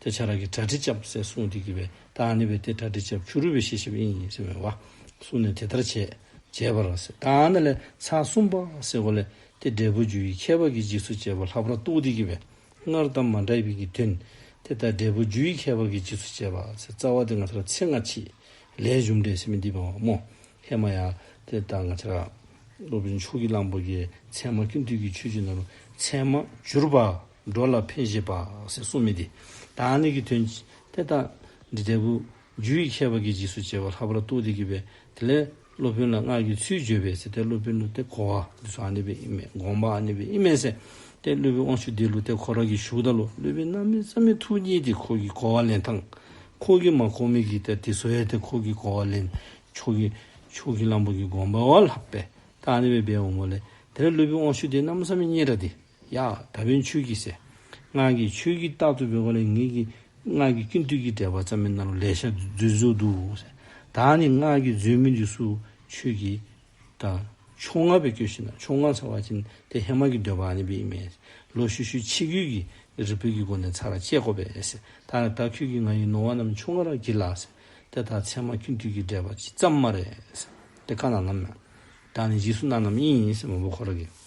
དེ་ཆ་ར་གི་གྲ་ཁྲི་ཅབ་སེ་སུང་དེ་གི་བའི་ད་ཨ་ནི་བའི་དེ་གྲ་ཁྲི་ཅབ་ཆུ་རུ་བའི་ཤེས་ཤབ་ཨིན་ཡིན་སེ་མོའི་བ་སུ་ནི་དེ་ལྟར་བྱས་བྱས་པ་ར་སེ་ད་ཨ་ནི་ལེ་ཚ་སུམ་པ་སེ་གོ་ལེ་དེ་འབྲས་བུ་རྒྱུ་ཡི་ཁྱད་པར་གི་འཇིགས་སུ་བྱེད་པ་ལྷག་པར་རྟོགས་དེ་གི་བའི་སྔར་གཏམ་མ་འདྲ་བའི་གི་དོན་དེ་ལྟར་འབྲས་བུ་རྒྱུ་ཡི་ཁྱད་པར་གི་འཇིགས་སུ་བྱེད་པ་སེ་རྩ་བ་དེ་ང་ཚ་ར་ཚེ་སྔ་ཕྱི་ལས་གཞུང་འབྲས་སེ་མི་འདི་བ་བ་མོ་ཧེ་མ་ཡ་དེ་ལྟར་ང་ཚ་ར། ལོ་བུ་ཆུ་གི་གླང་པོ་གི་ཚད་མ་ཀུན་བཏུས་ཀྱི་ཆུ་ཆུ་ན་རུ་ཚད་མ་བསྒྱུར་བ། འགྲོ་ལ་འཕེལ་ཞེས་པསེ་གསུངས་མི་བདེ། དང་ནི་གི་དོན། དེ་ལྟ། འདི་ལྟ་བུ། རྒྱུ་ཡི་ཁྱད་པར་གྱིས་འཇིགས་སུ་བྱེད་པ་ལྷག་པར་རྟོགས་ཏེ་བགྱི་བས་དེ་ལས། སློབ་དཔོན་ལ་སྔགས་ཀྱི་ཚུལ་བརྗོད་པས་སེ་སྟེ་སློབ་དཔོན་ལུས་སྟེ་འཁོར་བ་འདི་ཚོ་ཨ་ནི་བའི་དབྱིངས་མེད་དགོངས་པ་ཨ་ནི་བའི་དབྱིངས་མེད་སེ་སྟེ་སློབ་བུའི་དབང་ཕྱུག་འདི་ལུས་སྟེ་འཁོར་བ་གྱི་ཞུགས་ད་ལོ་སློབ་བུའི་རྣམ་སྨིན་རྩ་མེད་ཐུགས་ཉིད་དེ་འཁོར་གྱི་གོ་བ་ལེན་དང། འཁོར་གྱི་མ་འཁོར་མིག་གིས་བལྟ་དེ་ཚོ་ཨེ་དེ་འཁོར་གྱི་གོ་བ་ལེན། ཕྱོགས་ཀྱི། ཕྱོགས་ཀྱི་གླང་པོ་གྱི་དགོངས་པ་བ་ལྷག་པས་ད་ཨ་ནི་བའི་བའི་འོ་མོ་ལས། དེ་ལས་སློབ་བུའི་དབང་ཕྱུག་དེ་རྣམ་སྨིན་སྙན་གྲགས་འདི། ཡང་ད་བོན་ཆོས་ཀྱི་སྲས། སྔགས་ཀྱི་ཆོས་ཀྱི་རྟགས་ཐུབ་པའི་བ་ལས་ངེད་ཀྱི། སྔགས་ཀྱི་ཀུན་བཏུས་ཀྱི་འགྲེལ་པ་རྩ་མེད་རྣམས་ལས་ཤར་རྫུན་བཟོ་འདུག། ད་ནི་སྔགས་ཀྱི་རྫུན་མི་འདུས་སུ་ཆོས་ཀྱི། དང། ཕྱོགས་སྔ་བས་སྐྱོ་ཤི་ན་ཕྱོགས་སྔ་ཚར་བ་ཅན་དེ་ཧེ་མ་ཀྱི་འདོད་པ་ཨ་ནི་བི་ཨི་མས། ལོ་ཤུ་ཤུའི་ཕྱི་རྒྱུད་ཀྱི་རི་བོད་ཀྱི་སྒོ་ནས་ཚར་བ་ཅད་བསྐོ་བས། ད་ནི་ད་ཁྱོད་ཀྱིས་ང་ཡི་ནོར་བ་རྣམས་ཕྱོགས་སྔ་ར་བགྱིས་ལགས། དེ་ལྟར་ཚད་མ་ཀུན་བཏུས་ཀྱི་འགྲེལ་པ་ཅི་ཙམ་མ་རེད། དེ་ཀ་ན་ནམ་ཡང། ད་ནི་འཇིགས་སུ་གནང་རྣམས་ཨིན། མ་བུ་ཁོ་ར་གི།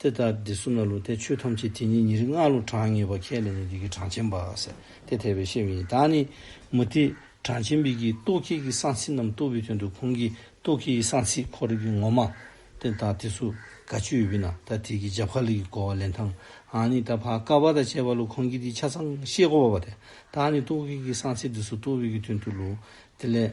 དེ་ལྟར་འདི་གསུམ་ལ་ལུས་ཏེ་ཆོས་ཐམས་ཅད་དེ་ཉིད་ཉིད་རིག་སྔགས་ལུགས་གྲངས་ངེས་པ་ཁས་ལེན་ནས་འདི་ཀའི་གྲངས་ཆེན་པ། དེ་ཐེག་པའི་ཤེས་པ་ཡིན་ད་ནི། མུ་སྟེགས་གྲངས་ཆེན་པོའི་གིས་རྟོག་གེ་གི་གསང་ཚིག་རྣམས་རྟོགས་པའི་དོན་དུ་གོང་གི་རྟོག་གེའི་གསང་ཚིག་ཁོ་རིག་གི་ངོ་མ། དེ་དང་དེ་སུ་ག་ཆོས་ཡོད་པས་ན་ད་དེ་གི་རྒྱབ་ཁ་ལི་གི་གོ་བ་ལེན་ཐང་ཨ་ནི་ད་བྷ་ག་བ་དང་བཅས་པ་ལུགས་གོང་གི་དེའི་ཆ་ཚང་ཤེས་གོ་བ་བ་དེ་ད་ནི་རྟོག་གེ་གི་གསང་ཚིག་དེ་སུ་རྟོགས་པའི་གི་དོན་དུ་ལུགས་དེ་ལས།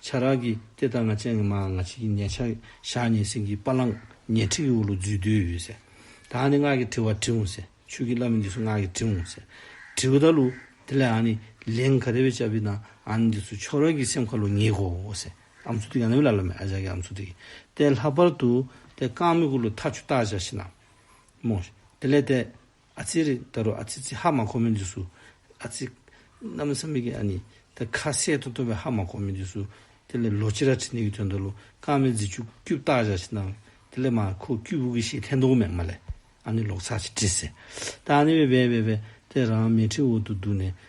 ཆ་རག་གིས་དེ་ལྟར་ང་ཅན་གྱི་མ་ང་ཅིག་གིས་ཉེ་ཆར་ཞག་གཉིས་སེང་གེའི་པ་ལང་ཉེ་ཁྲིག་གི་འུ་ལུ་འཛུལ་དུས་ཡོད་ཟེར། ད་ཨ་ནི་སྔགས་ཀྱི་དྲི་བ་དྲི་འོང་ཟེར་ཆོས་ཀྱི་བླ་མ་འདི་སུ་སྔགས་ཀྱི་དྲི་འོང་ཟེར། དྲི་བ་ད་ལུ། དེ་ལས་ཨ་ནི་ལན་ག་རེ་བས་བྱ་བའི་ན་ཨ་ནི་འདི་སུ་ཆོག་རག་གིས་སེམས་ཁ་ལོ་ཉེས་གོ་ཟེར། ཨ་མཚུ་ཏིག་ཨ་ནི་བི་ལ་ལ་མེ་ཨ་ཅག་གིས་ཨ་མཚུ་ཏིག་གིས་དེ་ལྷག་པར་དུ་དེ་རྐང་མི་གུ་ལུ་ཐ་ཆུ་ཏག་ཅག་ཤི་ན། མོ། དེ་ལས་དེ་ཨ་ཙི་རེད་ད་རུང་ཨ་ཙི་ཙི་ཧ་མ་གོ་མི་འདུག་སུ་ཨ་ཙི། གནམ་བཟའ་མི་གི་ཨ་ནི་ད་ཁ་གསལ་དུ་སྟོན་པའི་ཧ་མ་གོ་མི་འདུག་སུ་དེ་ལས་ལོ་ཅི་ར་ཁྲི་ནི་གི་དོན་དུ་ལོ་རྐང་མི་རྫི་ཆུ་སྐྱུབ་བཏགས་བཞག་ཅིག་གནང་དེ་ལས་མ་ཁོ་སྐྱུ་བུ་གི་ཞེས་ཐན་དུང་མེག་མ་ལས་ཨ་ནི་ལོག་ཚག་ཅིག་བྲིས་ཟེར་ད་ཨ་ནི་བས་བས་བས་བས་དེ་རང་མལ་ཁྲིའི་འོག་ཏུ་འདུག་ནས་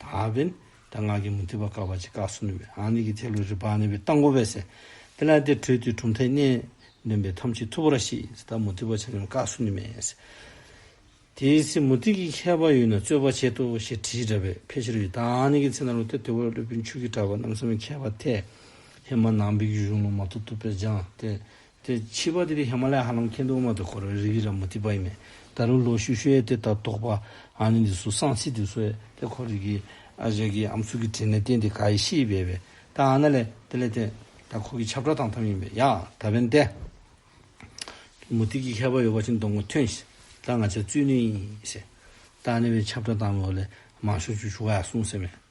དག་པའི། ད་སྔགས་ཀྱི་མུ་ཏིག་པ་བཀག་པ་ཅི་བཀག་སུ་ནུས་པའི། ཨ་ནི་གི་ཐེག་དགུའི་རི་བག་ནི་བའི་རྟ་མགོ་བས་ཟེར། དེ་ལ་དེར་བྲོས་དུས་གྲུབ་མཐའི་གནས། འདོན་པའི་ཐམས་ཅད་ཐུབ་པོ་ར་ཤི་ཡིས། ད་མུ་ཏིག་པ་ཆ་ནི་བཀག་སུ་ནུས་མེད། དེའི་ཚེ་མུ་ཏིག་གི་མཁས་པ་ཡོད་ན་རྩོད་པ་བྱེད་དོ་ཞེས་དྲིས་འདྲ་བས་ཕལ་ཆེར་ཡོད། ད་ཨ་ནི་གི་ཚེ་ན་རོ་ཏེ་དེ་བས་བློ་བུན་ཆུ་གིས་བྲབས་པ་རྣམས་སམ་མཁས་པ་དེས། ཧེ་མ་ནང་པའི་རྒྱུད་གཞུང་ལུང་མ་ཐུབ་ཐུབ་པས་སྦྱངས་ཏེ། དེ་ཕྱིས་པ་དེ་དེ་ཧི་མ་ལ་ཡའི་ཧ་ལམ་ཁེན་ཏུ་ཨུ་མ་ཏུ་འཁོར་བའི་རིགས་ར་མུ་ཏི་པ་ཡིན་མོད། ད་རུང་ལོ་ཤུག་ཤོས་དེ་དག་དོགས་པ་ཨ་ནི་འདི་སུ་སང་ཚིག་དེ་སུ་ཨེ་དེ་ཁོ་རིགས་ཀྱི་ཨ་ཞེས་ཀྱི་ཨམ་ཚུགས་ཀྱི་དྲིན་ལས་བརྟེན་ཏེ་ག་ཡི་ཤི་ཡི་བས་བས་ད་ཨ་ན་ལས་དེ་ལས་དེ་ད་ཁོ་གི་ཆབ་བྲག་དང་ཐམས་ཡིན་པས་ཡ་ད་བན་དེ་གི་མུ་ཏིག་གི་ཁ་བ་ཡོད་པ་ཅིག་འདོང་གི་ཐོན་ཞེས་ད་ང་ཚའི་བཙུན་ནུ་ཡིན་ཞེས་ད་ཨ་ནི་བའི་ཆབ་བྲག་དང་མོ་ལས་མང་ཤོས་ཆུ་ཆུ་ག་ཡ་གསུངས་ཟེར་མོད།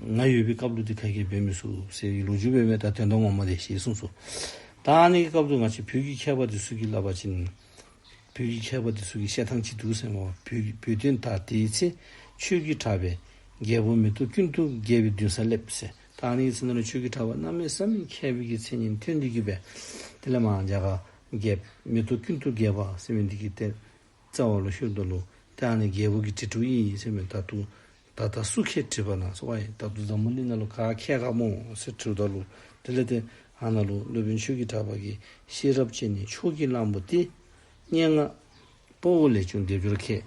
ང་ཡོད་པའི་སྐབས་ལུགས་འདི་ག་གིས་འབད་མི་སྲུ་ཟེར་གི་ལོ་བཅུ་བའི་མེད་ད་དོན་དོན་ངོ་མ་རེད་ཞེས་གསུངས་སོ། ད་ཨ་ནེ་གི་སྐབས་དུ་ང་ཆེ་བོད་ཀྱི་མཁས་པ་དེ་སུ་གིས་བསླབ་པ་བྱིན། བོད་ཀྱི་མཁས་པ་དེ་སུ་གིས་བཤད་སྟངས་ཅི་འདུག་སེམས་ངོ་བོས་བོད་དོན་དག་དེའི་ཚེ་ཆོས་ཀྱི་གྲགས་པས་རྒྱལ་པོ་མེ་ཏོག་ཀུན་ཏུ་རྒྱལ་བའི་མདུན་སར་སླེབས་ཟེར་ད་ཨ་ནེ་གི་ཚེ་ན་ལ་ཆོས་ཀྱི་གྲགས་པ་རྣམ་མེད་ས་མེད་མཁས་པའི་ཀྱི་མཚན་ཉིད་ཐོན་འདི་གི་བས་དེ་ལས་མང་འཇག་རྒྱལ་མེ་ཏོག་ཀུན་ཏུ་རྒྱལ་བ་སེམས་བས་འདི་གི་ཏེ་རྩ་བ་ལོ་ཤུར་འདོར་ལུགས་ཏེ་ཨ་ནེ་རྒྱལ་པོ་གི་དྲི་དྲུག་ཡིན་ཡིན་སེམས་བས་ད་དུ་ད་ལྟ་སུ་ཁས་བྲིས་པ་ན་སོ་བ་ཡིན། ད་དུ་འཛམ་བུ་གླིང་ན་ལོ་ག་ཁས་ཁ་མོ་སེ་ཁྲིའུ་ད་ལུ་དེ་ལས་ཏེ་ཧ་ན་ལུ་སློད་བོན་ཆོས་ཀྱི་གྲགས་པ་ཀྱི་ཤེས་རབ་ཅན་ནི་ཕྱོགས་ཀྱི་གླང་པོ་སྟེ། སྙན་ངག། སྤོ་བོ་ལས་ཅུང་སྡེབ་སྦྱོར་ཁས།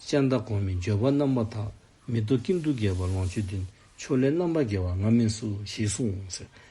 ལྕགས་མདའ་གོང་མའི་འགྱོད་པ་རྣམ་པ་དག་མི་རྟོག་ཀིམ་དུ་རྒྱལ་བ་ལོངས་སྤྱོད་བདུན་ཕྱོགས་ལས་རྣམ་པར་རྒྱལ་བ་ང་མིན་སུ་ཞིག་གསུངས།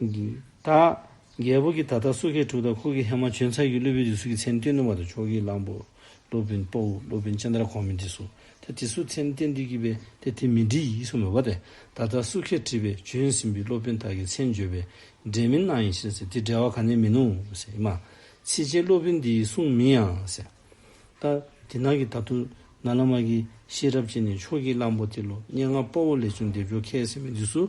ད། རྒྱལ་པོ་གྱིས་ད་ལྟ་སུ་ཁེ་དྲུག་དང་ཁུ་ཁེ་ཧེ་མ་བྱོན་ཚར་གྱིས་ཀླུ་བུན་དྲི་གསུ་གྱི་མཚན་བསྟོད་ནུ་མ་དང་ཕྱོགས་ཀྱི་གླང་པོ། ཀླུ་བུན་སྤོ་འུ་ཀླུ་བུན་ཅན་དར་གོང་མི་དྲི་གསུ་དེ་དྲི་གསུ་མཚན་བསྟན་དུས་ཀྱི་པས་དེ་དེ་མི་དྲི་ཡིས་སུ་མི་བ་སྟེ་ད་ལྟ་སུ་ཁེ་དྲི་བས་བྱོན་ཟིན་པའི་ཀླུ་བུན་དག་གི་མཚན་བརྗོད་པས་འབྲེལ་མིན་སྣང་ཡིན་ཞེས་ཟེར་དེ་འབྲེལ་བ་ག་ནས་མིན་ནོ་ཟེར་ཨེ་མ། ཚིལ་ཆེན་ཀླུ་བུན་འདིའི་གསུང་མིན་ཡང་ཟེར། ད། དེ་ནག་གི་ད་དུང་ན་ལ་མ་གིས་ཤེས་རབ་ཅན་ནི་ཕྱོགས་ཀྱི་གླང་པོ་དེ་ལོ་སྙེ་ལྔ་སྤོ་འུ་ལས་བྱོན་འདེབས་འཇོག་མཁས་ཟེར་བའི་དུས་སུ།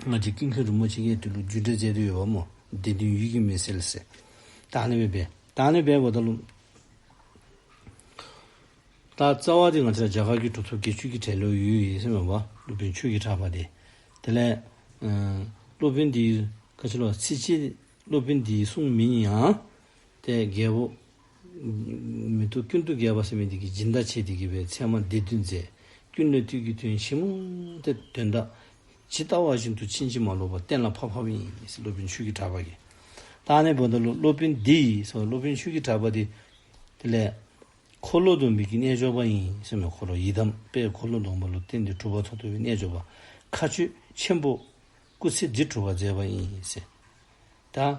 སྔ་རྗེས་ཀིང་ཁིན་རིན་པོ་ཆེ་ཡས་དེ་ལུགས་བརྒྱུད་འགྲེལ་མཛད་དུ་ཡོད་པ་མོ་བདེ་དོན་ཡུལ་གྱི་མི་སེར་ལ་ཟེར། ཏཱ་ལའི་བས་སྦས། ཏཱ་ལའི་བས་བོ་ད་ལུགས། ད་རྩ་བ་དེ་ང་ཚོས་རྒྱ་གར་གྱི་གྲུབ་ཐོབ་དགེ་ཆོས་ཀྱི་གྲས་ལོས་ཡོད་ཡིན་སེམས་པ་བ་སློབ་དཔོན་ཆོས་ཀྱི་གྲགས་པ་དེ། དེ་ལས། སློབ་དཔོན་འདིའི་ཁ་ཆེ་ལོ་ཚིགས་ཆེ་སློབ་དཔོན་འདིའི་གསུང་མིན་ཡང། དེ་རྒྱལ་པོ། མི་ཐུབ་ཀུན་ཏུ་རྒྱལ་བ་སེམས་མེད་འདི་གི་སྦྱིན་བདག་ཆེ་འདི་གི་བའི་མཚན་མ་འདི་བདུན་མཛད། ཀུན་ནས་དུས་ཀྱི་དོན་ཆེན་མོ་སྟེ་དོན་དག། ཇི་ལྟ་བ་བཞིན་དུ་ཕྱིན་ཅི་མ་ལོག་པར་བསྟན་ལ་ཕབ་ཕབ་ཡིན། སློབ་དཔོན་ཆོས་ཀྱི་གྲགས་པ་ཡི། རྟགས་ནི་བོ་ད་ལོ་སློབ་དཔོན་འདི་ཡི་སོགས་སློབ་དཔོན་ཆོས་ཀྱི་གྲགས་པ་འདི། དེ་ལས། འཁོར་ལོ་སྡོམ་པའི་གི་རྣལ་འབྱོར་པ་ཡིན་སེམས་ལ་འཁོར་ལོ་ཡི་དམ་དཔལ་འཁོར་ལོ་སྡོམ་པ་ལ་བརྟེན་ཏེ་གྲུབ་པ་ཐོག་ཐུ་བའི་རྣལ་འབྱོར་པ། མཁའ་སྤྱོད་ཆེན་པོ། སྐུ་ཚེ་འདི་གྲུབ་པར་མཛད་པ་ཡིན། ད།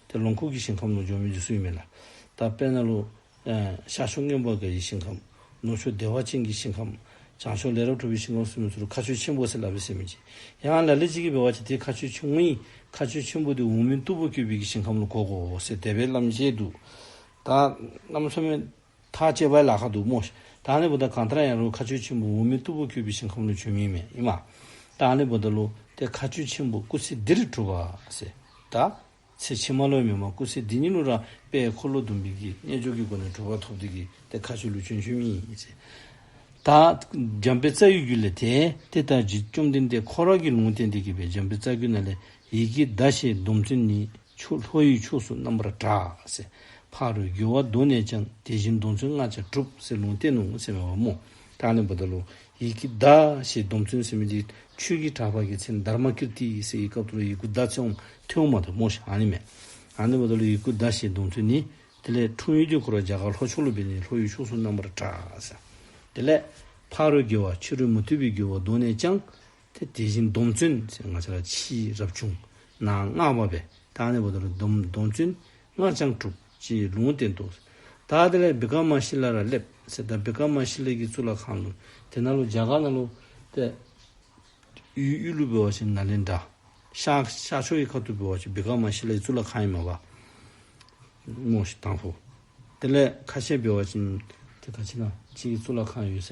དེ་ལོངས་སྐུ་གྱི་ཞིང་ཁམས་ནོར་འབྱུང་མི་འཇིགས་སུ་ཡིན་མེད་ལ། ད་དཔེར་ན། ཤར་ཕྱོགས་སྔོན་པོ་དགའ་ཡི་ཞིང་ཁམས། ནུབ་ཕྱོགས་བདེ་བ་ཅན་གྱི་ཞིང་ཁམས། བྱང་ཕྱོགས་ལས་རབ་གྲུབ་པའི་ཞིང་ཁམས་སུ་མི་ཚུར་ཁ་ཆུ་ཆེན་པོ་སེར་ལ་བས་སེར་མི་འཇིགས། ཡང་ལ་ལས་གཅིག་གིས་བས་བ་ཅི་སྟེ་ཁ་ཆུ་ཆུང་ངུའི། ཁ་ཆུ་ཆེན་པོ་དེ་འོག་མིན་སྟུག་པོ་སྐྱོད་པའི་གི་ཞིང་ཁམས་ལ་གོ་གོ། ཟེར་དད་པའི་ལམ་བྱེད་དུ། ད། རྣམ་འཚོལ་མེད། ཐག་བཅད་པའི་ལ་ཁ་འདུག་མོ། ད་ནི་བུ་ད་གང་ལྟར་ཡང་རུང་ཁ་ཆུ་ཆེན་པོ་འོ་མའི་སྟུག་པོ་འཁྱུད་པའི་ཞིང་ཁམས་ལ་བྱོན་མིན་མེད་ཨེ་མ། ད་ནི་བུ་ད་ལོ་དེ་ཁ་ཆུ་ཆེན་པོ་སྐུ་ཚེ་འདིར་གྲུབ་པ། ཟེར། ད། ཚེ་ཕྱི་མ་ལོའི་མི་མ་སྐུ་ཚེ་འདི་ཉིད་ལོ་རང་དཔལ་འཁོར་ལོ་ཟླུམ་པོའི་གྱི་རྣལ་འབྱོར་གྱི་སྒོ་ནས་གྲུབ་པ་ཐོབ་དུས་ཀྱི་དེ་ཁ་ཆུ་ལུས་བྱོན་བྱོན་མིན། ཟེར། ད། འཇམ་དཔལ་རྩ་ཡུལ་རྒྱུད་ལས་དེ། དེ་ལྟར་རྗེ་བཅོམ་ལྡན་འདས་ཁོ་རང་གིས་ལུང་བསྟན་དེ་དགེ་བའི་འཇམ་དཔལ་རྩ་རྒྱུད་ན་ལས་ཡི་གེའི་བརྡ་ཞེས་སྡོམ་ཚུལ་ནི། ཆུ་ལྷོ་ཡི་ཕྱོགས་སུ་རྣམ་པར་གྲགས། ཕ་རོལ་རྒྱུ་བ་གདོད་ནས་ཀྱང། དེ་བཞིན་སྡོམ་ཚུལ་ལྔ་བྱ་གྲུབ། ལུང་བསྟན་ནོ་ཞེས་པའི་བ་མོ། ཏཱ་ལའི་བུ་ད་ལོ། ཡི་གེ་བཟླ། ཞེས་སྡོམ་ཚུལ་ཟིན་མི་འཇིགས་ཆོས་ཀྱི་གྲགས་པ་ཀྱི་ཚེ་མནྡཱ་རྨ་ཀིརྟི་ཡི་སྲས་ཡི་སྐབས་ད་ལོ་ཡི་གུ་བཟླ་ཚེ་འོང་ཐེ་འོང་མ་ཐེ་འོང་ཞེས་ཨ་ནི་མེད། ཨ་ནི་བུ་ད་ལོ་ཡི་གུ་བཟླ་ཞེས་སྡོམ་ཚུལ་ནི། དེ་ལས་འཁྲུངས་ཡུལ་དུས་འཁོར་བ་རྒྱ་གར་ལྷོ་ཕྱོགས་ལུ་སྦེ་ནི་ལྷོ་ཡི་ཕྱོགས་སུ་རྣམ་པར་གྲགས། དེ་ལས། ཕ་རོལ་རྒྱུ་བ་ཕྱི་རོལ་མུ་ཏིག་པའི་རྒྱུ་བ་གདོད་ནས་ཀྱང། དེ་དེ་བཞིན་སྡོམ་བརྩོན་ཞེས་ང་ཅག་ལ་ཕྱིའི་རབ་བྱུང་ན་སྔགས་བབས་པས་དང་ནི་བོ་དོ་ལ་སྡོམ་བརྩོན་སྔགས་འཆང་དྲུག་ཅེས་ལུང་བསྟན་ཏོ། ཏཱ་དེ་ལས་བི་ཀ་མ་ཤི་ལ་ར་སླེབ་ཟེར་ཏཱ་བི་ཀ་མ་ཤི་ལ་གྱི་གཙུག་ལག་ཁང་དུ་དེ་ན་ལོ་བརྒྱ་ག་ན་ལོ་སྟེ། གཡུའི་གཡུ་ལུ་བོད་བ་ཆེན་ན་ལེནྡྲ་ཤཱཀྱ་ཕྱོགས་ཀྱི་ཁ་ཐུར་བོད་བ་ཆེན་བི་ཀ་མ་ཤི་ལ་ཡི་གཙུག་ལག་ཁང་ཡིན་མོད་པདྨོ་ཞེས་དང་བོ། དེ་ལས་ཁ་ཆེ་བོད་བ་ཆེན་དེ་ཁ་ཆེ་ན་ཆེ་ཡི་གཙུག་ལག་ཁང་ཡོད་ས་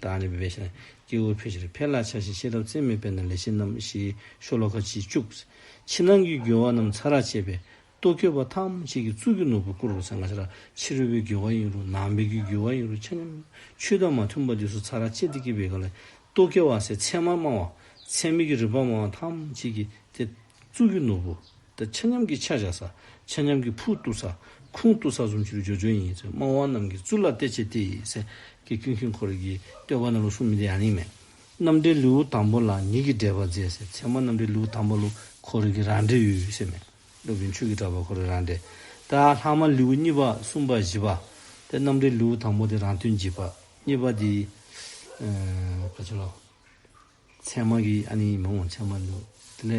བདག་ནི་བི་བེ་ཤ། སྐྱེ་བོའི་བུ་ཤེར་འཕེལ་ལ་ཆ་ཤས་ཤེས་རབ་རྩལ་མེད་པས་ན་ལས་བྱེད་རྣམས་ཞེས་ཤོ་ལོ་ཀ་བཞི་བཅུ། ཕྱི་ནང་གི་རྒྱུ་བ་རྣམས་ཚ་རགས་བྱེད་པས་ལྟོ་འཁྱོལ་བ་ཐམས་ཅད་ཀྱི་གཙུག་གི་ནོར་བུ་བསྐུར་རོ་ཚེ་འགའ་ཤ་རགས་ཕྱི་རོལ་པའི་རྒྱུ་བ་ཡིན་རུང་ནང་པའི་རྒྱུའི་རྒྱུ་བ་ཡིན་རུང་ཆ་མཉམ། ཆུ་དང་མ་མཐུན་པ་དུས་སུ་ཚ་རགས་བྱེད་དེ་སྐྱེས་པའི་ག་ལས་ལྟོ་འཁྱོལ་བ་སའི་ཚད་མ་སྨྲ་བ། ཚད་མེད་ཀྱི་རིགས་པ་སྨྲ་བ་ཐམས་ཅད་ཀྱིས་དེ། གཙུག་གི་ནོར་བུ། ཆ་མཉམ་གྱི་ཆ་བཞག་ས། ཆ་མཉམ་གྱི་ཕུག་བཏུ་ས། ཁུང་བཏུ་ས་གསུམ་ཕྱི་རུ་སྦྱོར་སྦྱོར་ཡིན། སྨྲ་བ་རྣམས་ཀྱི་གཙུག་ལག་གཏད་བྱེད་དེ། སེང་གེ་ཁྱུང་ཁྱུང་འཁོར་གྱིས་བསྟོད་པ་རྣམས་ལ་གསུང་མི་འདྲེ་ཡང་ལིང་མེད། རྣམ་འདྲེ་ལེའུ་དང་པོ་ལ་ཉིད་ཀྱིས་འགྲེལ་པར་མཛད། ཚད་མ་རྣམ་འདྲེ་ལེའུ་དང་པོ་ལུ་འཁོར་རིགས་ཀྱི་རང་འགྲེལ་ཡུལ་ཤེས་མེད། སློབ་དཔོན་ཆོས་ཀྱི་གྲགས་པ་འཁོར་རིགས་རང་འགྲེལ། ཏཱ་ལྷག་མ་ལེའུ་གཉིས་པ་གསུམ་པ་བཞི་པ། ཏེ་རྣམ་འགྲེལ་ལེའུ་དང་པོ་དེ་རང་དོན་གྱིས་པ། གཉིས་པ་དེ། མཚན་མ་གི་ཨ་ནི་མང་བ་མཚན་མ་ལུས། དེ་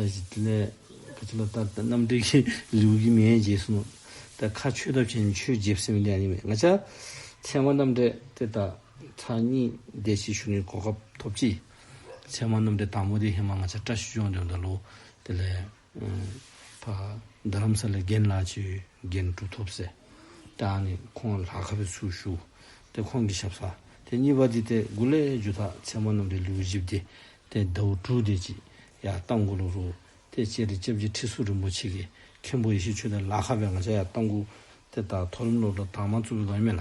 ལས་དེ་ལས་ག་ཚོད་ལ་ལྟ་ལྟ་རྣམ་འགྲེལ་གྱི་ལེའུ་གི་མའི་རྗེས་སུ་ནོ། དེ་ཁ་ཆོས་ཐབས་ཆེན་ཆོས་རྗེ་བསམ་ཡུལ་ལས་ཨ་ནི་མེད་ང་ཅག། མཚན་མ་རྣམ་འགྲེལ་དེ་དག་ཕྲ་གཉིས་བདེ་གཤེགས་ཞུ་ནི་གོ་སྐབས་ཐོབ་ཀྱིས། མཚན་མ་རྣམ་འགྲེལ་དང་པོ་དེ་ཧེ་མ་ང་ཅག་བཀྲ་ཤིས་ལྗོངས་འདོད་འདོད་ལོ། དེ་ལས། ཕ། རྡ་རམ་ས་ལའི་རྒན་བླ་སྤྱིའི་རྒན་གྲུབ་ཐོབ་སེ་ཀྲང་ནི་ཁོང་ལ་ལྷ་ཁ་བའི་ཚུལ་བཞུགས་ཏེ་ཁོང་གི་ཞབས་ས་དེ་གཉིས་པ་འདི་སྟེ་དགུ་ལས་རྒྱུ་དག་མཚན་མོ་རྣམས་རི་ལུའི་གཞི་བདེ་སྟེ་དྭོགས་གྲུ་བདེ་སྐྱིད་ཡ་རྟ་མགོ་ལོ་རུ་སྟེ་སྤྱན་རས་སྐྱབས་ཀྱི་ཁྲི་ཟུར་རིན་པོ་ཆེ་གི་མཁན་པོ་ཡེ་ཤེས་ཆོས་དེ་ལྷ་ཁ་བའི་ང་བྱ་ཡ་རྟ་མགུ་དེ་དག་མཐོ་རིམ་སློབ་གྲྭ་དག་མ་བཙུགས་པའི་དགོས་མེད་ལ།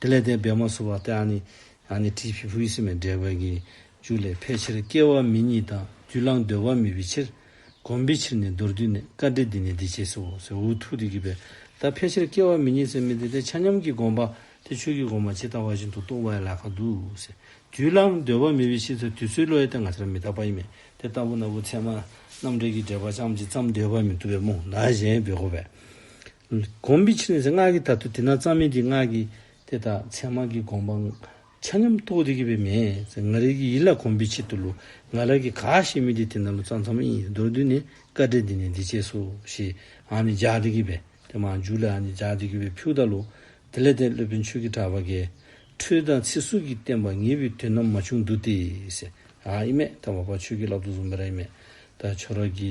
དེ་ལས་དེ་བས་མ་བཟོ་བར་ཏེ་ཨ་ནི། ཨ་ནི་ཏིས་བྷི་བྷུ་ཡི་སེམས་པའི་འབྲས་བུ་ཀྱི། རྒྱུ་ལས་ཕལ་ཆེར་སྐྱེ་བ་མི་གཉིས་དང་རྒྱུ་བླངས་འདོད་བ་མེད་པའི་ཕྱིར། གོམས་པའི་ཕྱིར་ནི་མདོར་བསྡུས་ནས་བཀའ་འགྲེལ་འདི་ནི་འདི་བྱས་སོ། འུ་ཐུག་ཏུ་གྱུར་པས་ད་ཕལ་ཆེར་སྐྱེ་བ་མི་གཉིས་སེམས་མི་འདི་དེ་ཆ་མཉམ་གྱི་སྒོམ་པ་དེ་ཆོས་ཀྱི་སྒོམ་པ་ཇི་ལྟ་བ་བཞིན་དུ་རྟོགས་པའི་ལ་ཁ་འདུག། རྒྱུ་བླངས་འདོད་བ་མེད་པའི་ཕྱིར་དེ་དུས་ཚོད་བློའི་སྟེང་ང་ཅར་མི་རྟག་པ་ཡིན་པས་དེ་ལྟ་བུ་ན་བུ་ཚད་མ་རྣམ་འགྲེལ་གྱི་འགྲེལ་པ་ཅམ་ཅིག་ཙམ་འདོད་པ་མི་འདུག་པས་རྨོངས་ན་གཞན་བེ་གོ་བས། སྒོམ་པའི་ཕྱིར་ནི་སྔགས་ཀྱི་དག་ཏུ་དེ་ན་གཙང་མིན་གྱི་སྔགས་ཀྱི་དེ་དག་མཚན་མ་གི་དགོངས་པ། ཆ་མཉམ་རྟོགས་བདེ་གི་བས་མས་ང་རིག་གི་ཡིད་ལ་གོམས་པའི་ཕྱིར་དུ་ལུ་ང་ལ་གི་ག་ཞེས་མི་དེ་དེ་ན་ལུ་གཙང་ཚང་མ་ཡིན་མདོར་བསྡུས་ནི་བཀའ་འགྲེལ་འདི་ནི་འདི་བྱས་སོ་ཞེས་འང་ནི་སྦྱར་བདེ་གི་བས་དེ་མ་འཇུག་ལ་འང་ནི་སྦྱར་བདེ་གི་བས་ཕུགས་དག་ལུ། དེ་ལས་དེ་སློད་པའི་མཆོད་ཀྱི་གྲགས་པ་འགལ། འཕྲུལ་དང་ཚིག་ཟུར་གྱིས་བསྟན་པ་ངེས་པའི་དོན་རྣམས་མ་བྱུང་འདུག་སྟེ། ཨཱ་ཨི་མས་ཐ་བ་པ་ཆོས་ཀྱི་རླབས་ཏུ་བཟུང་བས་ར་ཨི་མས་ད་ཆོས་ར་གི་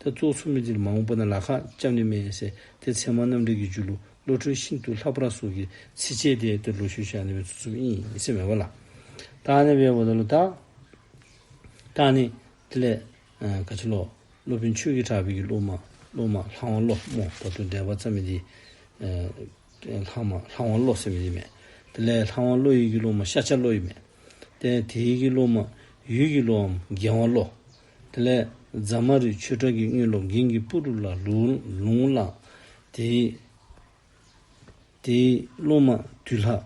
ད་གཙུག་ཚོ་མི་འདིར་མ་འོངས་པ་ན་ལ་ཁ་བཅབས་ནི་མེད་ཟེར་དེ་ཚེ་མ་རྣམ་འགྲེལ་གྱི་རྒྱུད་ལུགས་བློ་གྲོས་ཤིན་ཏུ་ལྷག་པ་ར་སོགས་ཀྱིས་ཚིག་བཅད་དེ་ལྟར་ལོ་ཞུས་བཞག་ནི་བའི་ཚུགས་ཚུབ་ཨིན་ཟེར་མེད་པ་ལ། རྟགས་ནི་བའི་བ་ད་ལོ་རྟགས། རྟགས་ནི། དེ་ལས། ཀ་ཆེ་ལོ། སློབ་དཔོན་ཆོས་ཀྱི་གྲགས་པའི་གྱི་སློབ་མ། སློབ་མ། ལྷག་མ་བློ། མོ། ད་དུང་འགྲེལ་པ་ཙམ་མི་འདི། ལྷག་མ། ལྷག་མ་བློ་ཟེར་མི་འདི་མེད། དེ་ལས་ལྷག་མ་བློ་ཡིག་གི་སློབ་མ་ཤ་ཆ་བློ་ཡིག་མེད། དེ་ཡི་གི་སློབ་མ། ཡུལ་གྱི་བློའམ། རྒྱལ་བ་བློ། དེ་ལས་རྫ་མ་རི་ཆོས་གྲགས་ཀྱི་སྙུན་ལོ་འགན་གྱི་སྤུ་གྲུ་ལ་ལུང་བླངས། དེའི་དེའི་སློབ་མ་བདུད་ལྷ།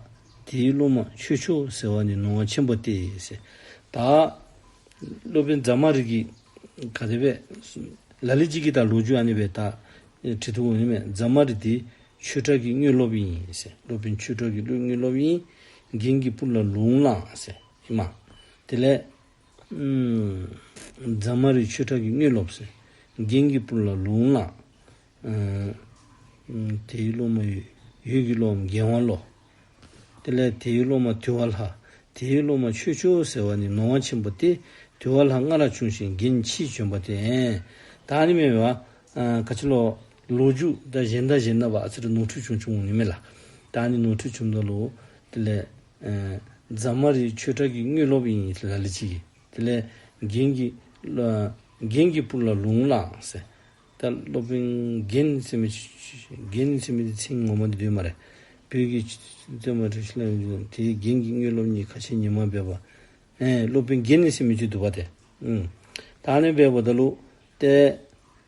དེའི་སློབ་མ་ཆོས་མཆོག་ཟེར་བ་ནི་ནོར་བ་ཆེན་པོ་སྟེ། ད་སློབ་དཔོན་རྫ་མ་རི་གིས་ག་དེ་བས་ལ་ལི་གཅིག་གིས་ད་ལོ་རྒྱུ་ཨ་ནི་བས་ད་བྲིས་འདུག་འོན་མེད་རྫ་མ་རི་དེ་ཆོས་གྲགས་ཀྱི་སྙུན་སློབ་ཡིན། སློབ་དཔོན་ཆོས་གྲགས་ཀྱི་སྙུན་སློབ་ཡིན། འགན་གྱི་སྤུ་གྲུ་ལ་ལུང་བླངས། ཨེ་མ། དེ་ལས། རྫ་མ་རི་ཆོས་གྲགས་ཀྱི་དངུལ་སློབ། རྒྱན་གྱི་སྤུར་ལ་ལུང་ལ། དེའི་སློབ་མ་ཡུལ་གྱི་སློབ་འམ་རྒྱལ་དབང་བློ། དེ་ལས་དེའི་སློབ་མ་དུལ་བ་ལྷ། དེའི་སློབ་མ་ཆོས་སྤྱོད་ཟེར་བ་ནི་ནོར་བ་ཆེན་པོ་སྟེ། དུལ་བ་ལྷ་སྔ་རག་ཆུང་ཞིང་རྒྱན་ཕྱིས་བྱོན་པ་དེ། ད་ནི་མེད་པས། ཁ་ཆེ་ལོ། ལོ་རྒྱུས། ཟླ་བཞི་ཟླ་བཞི་ན་བ་ཨ་ཚེ་རི་ནོར་འཁྲུལ་བྱུང་བྱུང་ངོ་ནི་མེད་ལ། ད་ནི་ནོར་འཁྲུལ་བྱུང་མདོག་ལོ། དེ་ལས། རྫ་མ་རིའི་ཆོས་གྲགས་ཀྱི་དངུལ་སློབ་ཡིན་ལ་ལས་བྱེད་ཀྱི། དེ་ལས། རྒན་གྱི། རྒན་གྱི་སྤུར་ལ་ལུང་བླངས། ཟེར། ད་སློབ་དཔོན་རྒན་ཚེ་མི། རྒན་ཚེ་མི་དེ་ཚིག་ངོ་མ་འདི་དོན་མ་རེད། བོད་ཀྱི། བཙན་མ་ཁྲི་ལ་ཡོང་རྒྱུ་དེ་རྒན་གྱི་དངུལ་སློབ་གཉིས་ཁ་ཆེ་ཉི་མ་འབེབས་པ། སློབ་དཔོན་རྒན་ནི་ཚེ་མི་ཆུ་བསྡུ་བ་དེ། ད་ནི་འབེབས་པ་ད་ལུགས། ཏེ།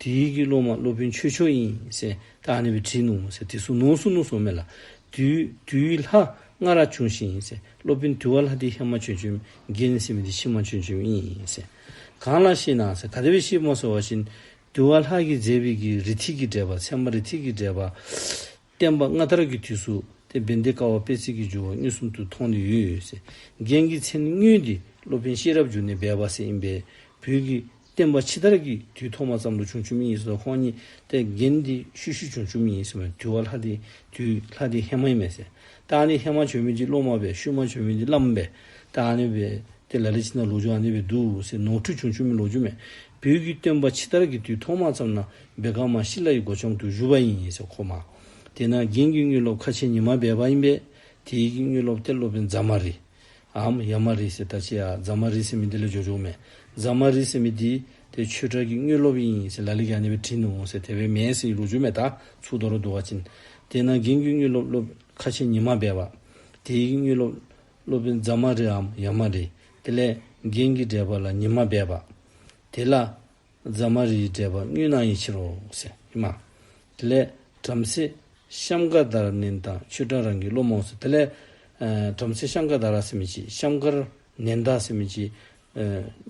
དེའི་ཡི་གེ་སློབ་མ་སློབ་དཔོན་ཆོས་མཆོག་ཡིན་ཟེར་ད་ཨ་ནེ་བའི་བྲིས་ནོ་ཟེར་དེ་སུ་ནོ་སུ་ནོ་སོགས་མེད་ལ། དུའི་ལྷ་སྔ་རག་བྱུང་ཞིག་ཡིན་ཟེར་སློབ་དཔོན་དུ་བ་ལྷ་དེའི་ཧེ་མ་ཆོས་འབྱུང་རྒྱལ་ནི་སྲིད་མི་དེའི་ཕྱི་མ་ཆོས་འབྱུང་ཡིན་ཟེར། གང་ལ་ཤེས་ན་ཟེར་ག་ད་བའི་ཤེས་མ་སོ་བ་བཞིན། དུ་བ་ལྷ་གིས་མཛད་པའི་ཡི་གེ་རི་ཐིག་གིས་འདྲེས་པ་ཚད་མ་རི་ཐིག་གིས་འདྲེས་པ། བསྟན་པ་སྔ་དར་གྱི་དུས་སུ་དེ་བན་དེ་ཀ་བ་པས་ཚིག་གི་སྦྱོར་བ་གཉིས་གསུམ་དུ་ཐོགས་ནས་ཡུལ་ཡོད་སའི་རྒྱན་གྱི་མཚན་བསྙུན་ཏེ་སློབ་དཔོན་ཤེས་རབ་བསྒྱུར་ནས་སྦས་པ་ཟེར་ཡིན་པས་བོད་ཀྱི་བསྟན་པ་ཕྱི་དར་གྱི་དུས་ཐོག་མ་ཙམ་དུ་བྱུང་ཆུ་མིག་ཡིན་ཟེར་བ་ཁོང་ཉིད་དེ་རྒྱན་འདི་ཤུལ་ཤུལ་བྱུང་ཆུ་མིག་ཡིན་ཟེར་བའི་དུས་བ་ལྷ་དེའི་དུས་ལྷ་དེ་ཧེ་མ་ཡིན་མེད་ཟེར། རྟགས་ནི་ཧེ་མ་བྱོན་མི་འདི་སློབ་མ་བས་ཤུལ་མ་བྱོན་མི་འདི་བླ་མ་བས་རྟགས་ནི་བས་དེ་ལ་ལས་ཕྱི་ནང་ལོག་འཇུག་ཨ་ནེ་བས་འདུག་ཟེར་ནོར་འཁྲུལ་བྱུང་ཆུ་མིག་ལོག་འཇུག་མེད་བོད་ཀྱི་བསྟན་པ་ཕྱི་དར་གྱི་དུས་ཐོག་མ་ཙམ་ན་སྦེད་ཀང་མ་ཤི་ལ་ཡི་སྒོ་ཆོང་དུ་བཞུ་བ་ཡིན་ཞེས་ཁོ་སྨྲ། དེས་ན་རྒན་གི་དངུལ་སློབ་ཁ་ཆེ་ཉི་མ་སྦེད་པ་ཡིན་པས་དེ་ཡི་གི་དངུལ་སློབ་དེ་སློབ་པའི་མཛའ་མ་རི། འམ་ཡ་མ་རི་ཞེས་ད་ཆེ་ཡ་མཛའ་མ་རི་སེ་མི་འདི་ལས་འཇོག་འཇོག་མེད་མཛའ་མ་རི་སེ་མི་འདི་དེ་ཆོས་གྲགས་ཀི་དངུལ་སློབ་ཡིན་ཞེས་ལ་ལི་ག་ནི་བའི་དྲིན་ནོ་འོང་སེ་དེ་བས་མེད་སེ་ཡི་ལུག་འཇོ་མེད་ད་ཚུགས་དོ་རོ་དུ་བ་ཅིན། དེས་ན་རྒན་གི་དངུལ་སློབ་སློབ་ཁ་ཆེ་ཉི་མ་སྦེད་པ། དེ་ཡི་གི་དངུལ་སློབ་སློབ་པའི་མཛའ་མ་རི་འམ་ཡ་མ་རི། དེ་ལས་རྒན་གི་འགྲས་པ་ལ་ཉི་མ་སྦེད་པ། དེ་ལ། རྫ་མ་རིའི་འགྲེལ་པ་རྔུལ་སྣང་ཡིད་ཕྱིར་རོ། སེམས་མ། དེ་ལས། བྲམ་ཟེ། བཤམ་མཁར་དར་བསྣན་དང་ཆུ་སྐྲངས་རང་གི་བློ་རྨོངས་སོ། དེ་ལས། བྲམ་ཟེ་བཤམ་མཁར་དར་ལ་སེམས་མི་བྱེད། བཤམ་མཁར། བསྣན་དང་སེམས་མི་བྱེད།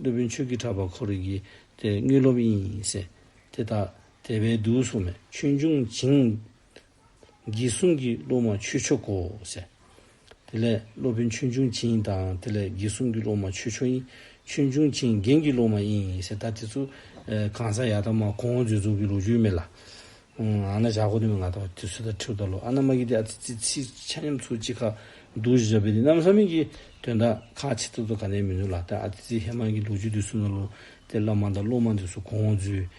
སློབ་དཔོན་ཆོས་ཀྱི་གྲགས་པ་འཁོར་རིགས་ཀྱི། དེ་དངོས་སློབ་ཡིན། དེ་དག། དད་པས་བསྡུ་གསུངས་མེད་ཆོས་འབྱུང་བྱིངས། རྒྱལ་གསུང་གི་སློབ་མ་ཆོས་མཆོག་གོ། དེ་ལས་སློབ་དཔོན་ཆོས་འབྱུང་བྱིན་དང་དེ་ལས་རྒྱལ་གསུང་གི་སློབ་མ་ཆོས་མཆོག་ཡིན། ཆོས་འབྱུང་བྱིན་རྒྱན་གྱི་སློབ་མ་ཡིན། ད་དེ་ཚོ་གང་ཟག་ཡག་དག་མ་གོང་འོག་འཛོལ་འཛོལ་གྱི་ལོ་རྒྱུས་མེད་ལ། ཨ་ན་བྱ་གོ་དེ་མི་ང་ཐོག་དེ་ཚོ་ད་ཁྲིའུ་ལྟར་ལོ་ཨ་ན་མ་གི་དེ་ཨ་ཙི་ཙི་ཚི་ཆ་མཉམ་ཚོ་གཅིག་ཁ་འདུག་བཞི་བྱ་བས་དེ་གནམ་ས་མིན་གྱི་དོན་དག་ཁ་ཆེ་ཚོ་ཚོ་ག་ནས་མི་འདུག་ལ་ད་ཨ་ཙི་ཙི་ཧེ་མ་གི་ལོ་རྒྱུས་དེ་གསུང་ད་ལོ་དེ་བླ་མ་དང་སློབ་མ་འདི་ཚོ་གོང་འོག་འཛོལ།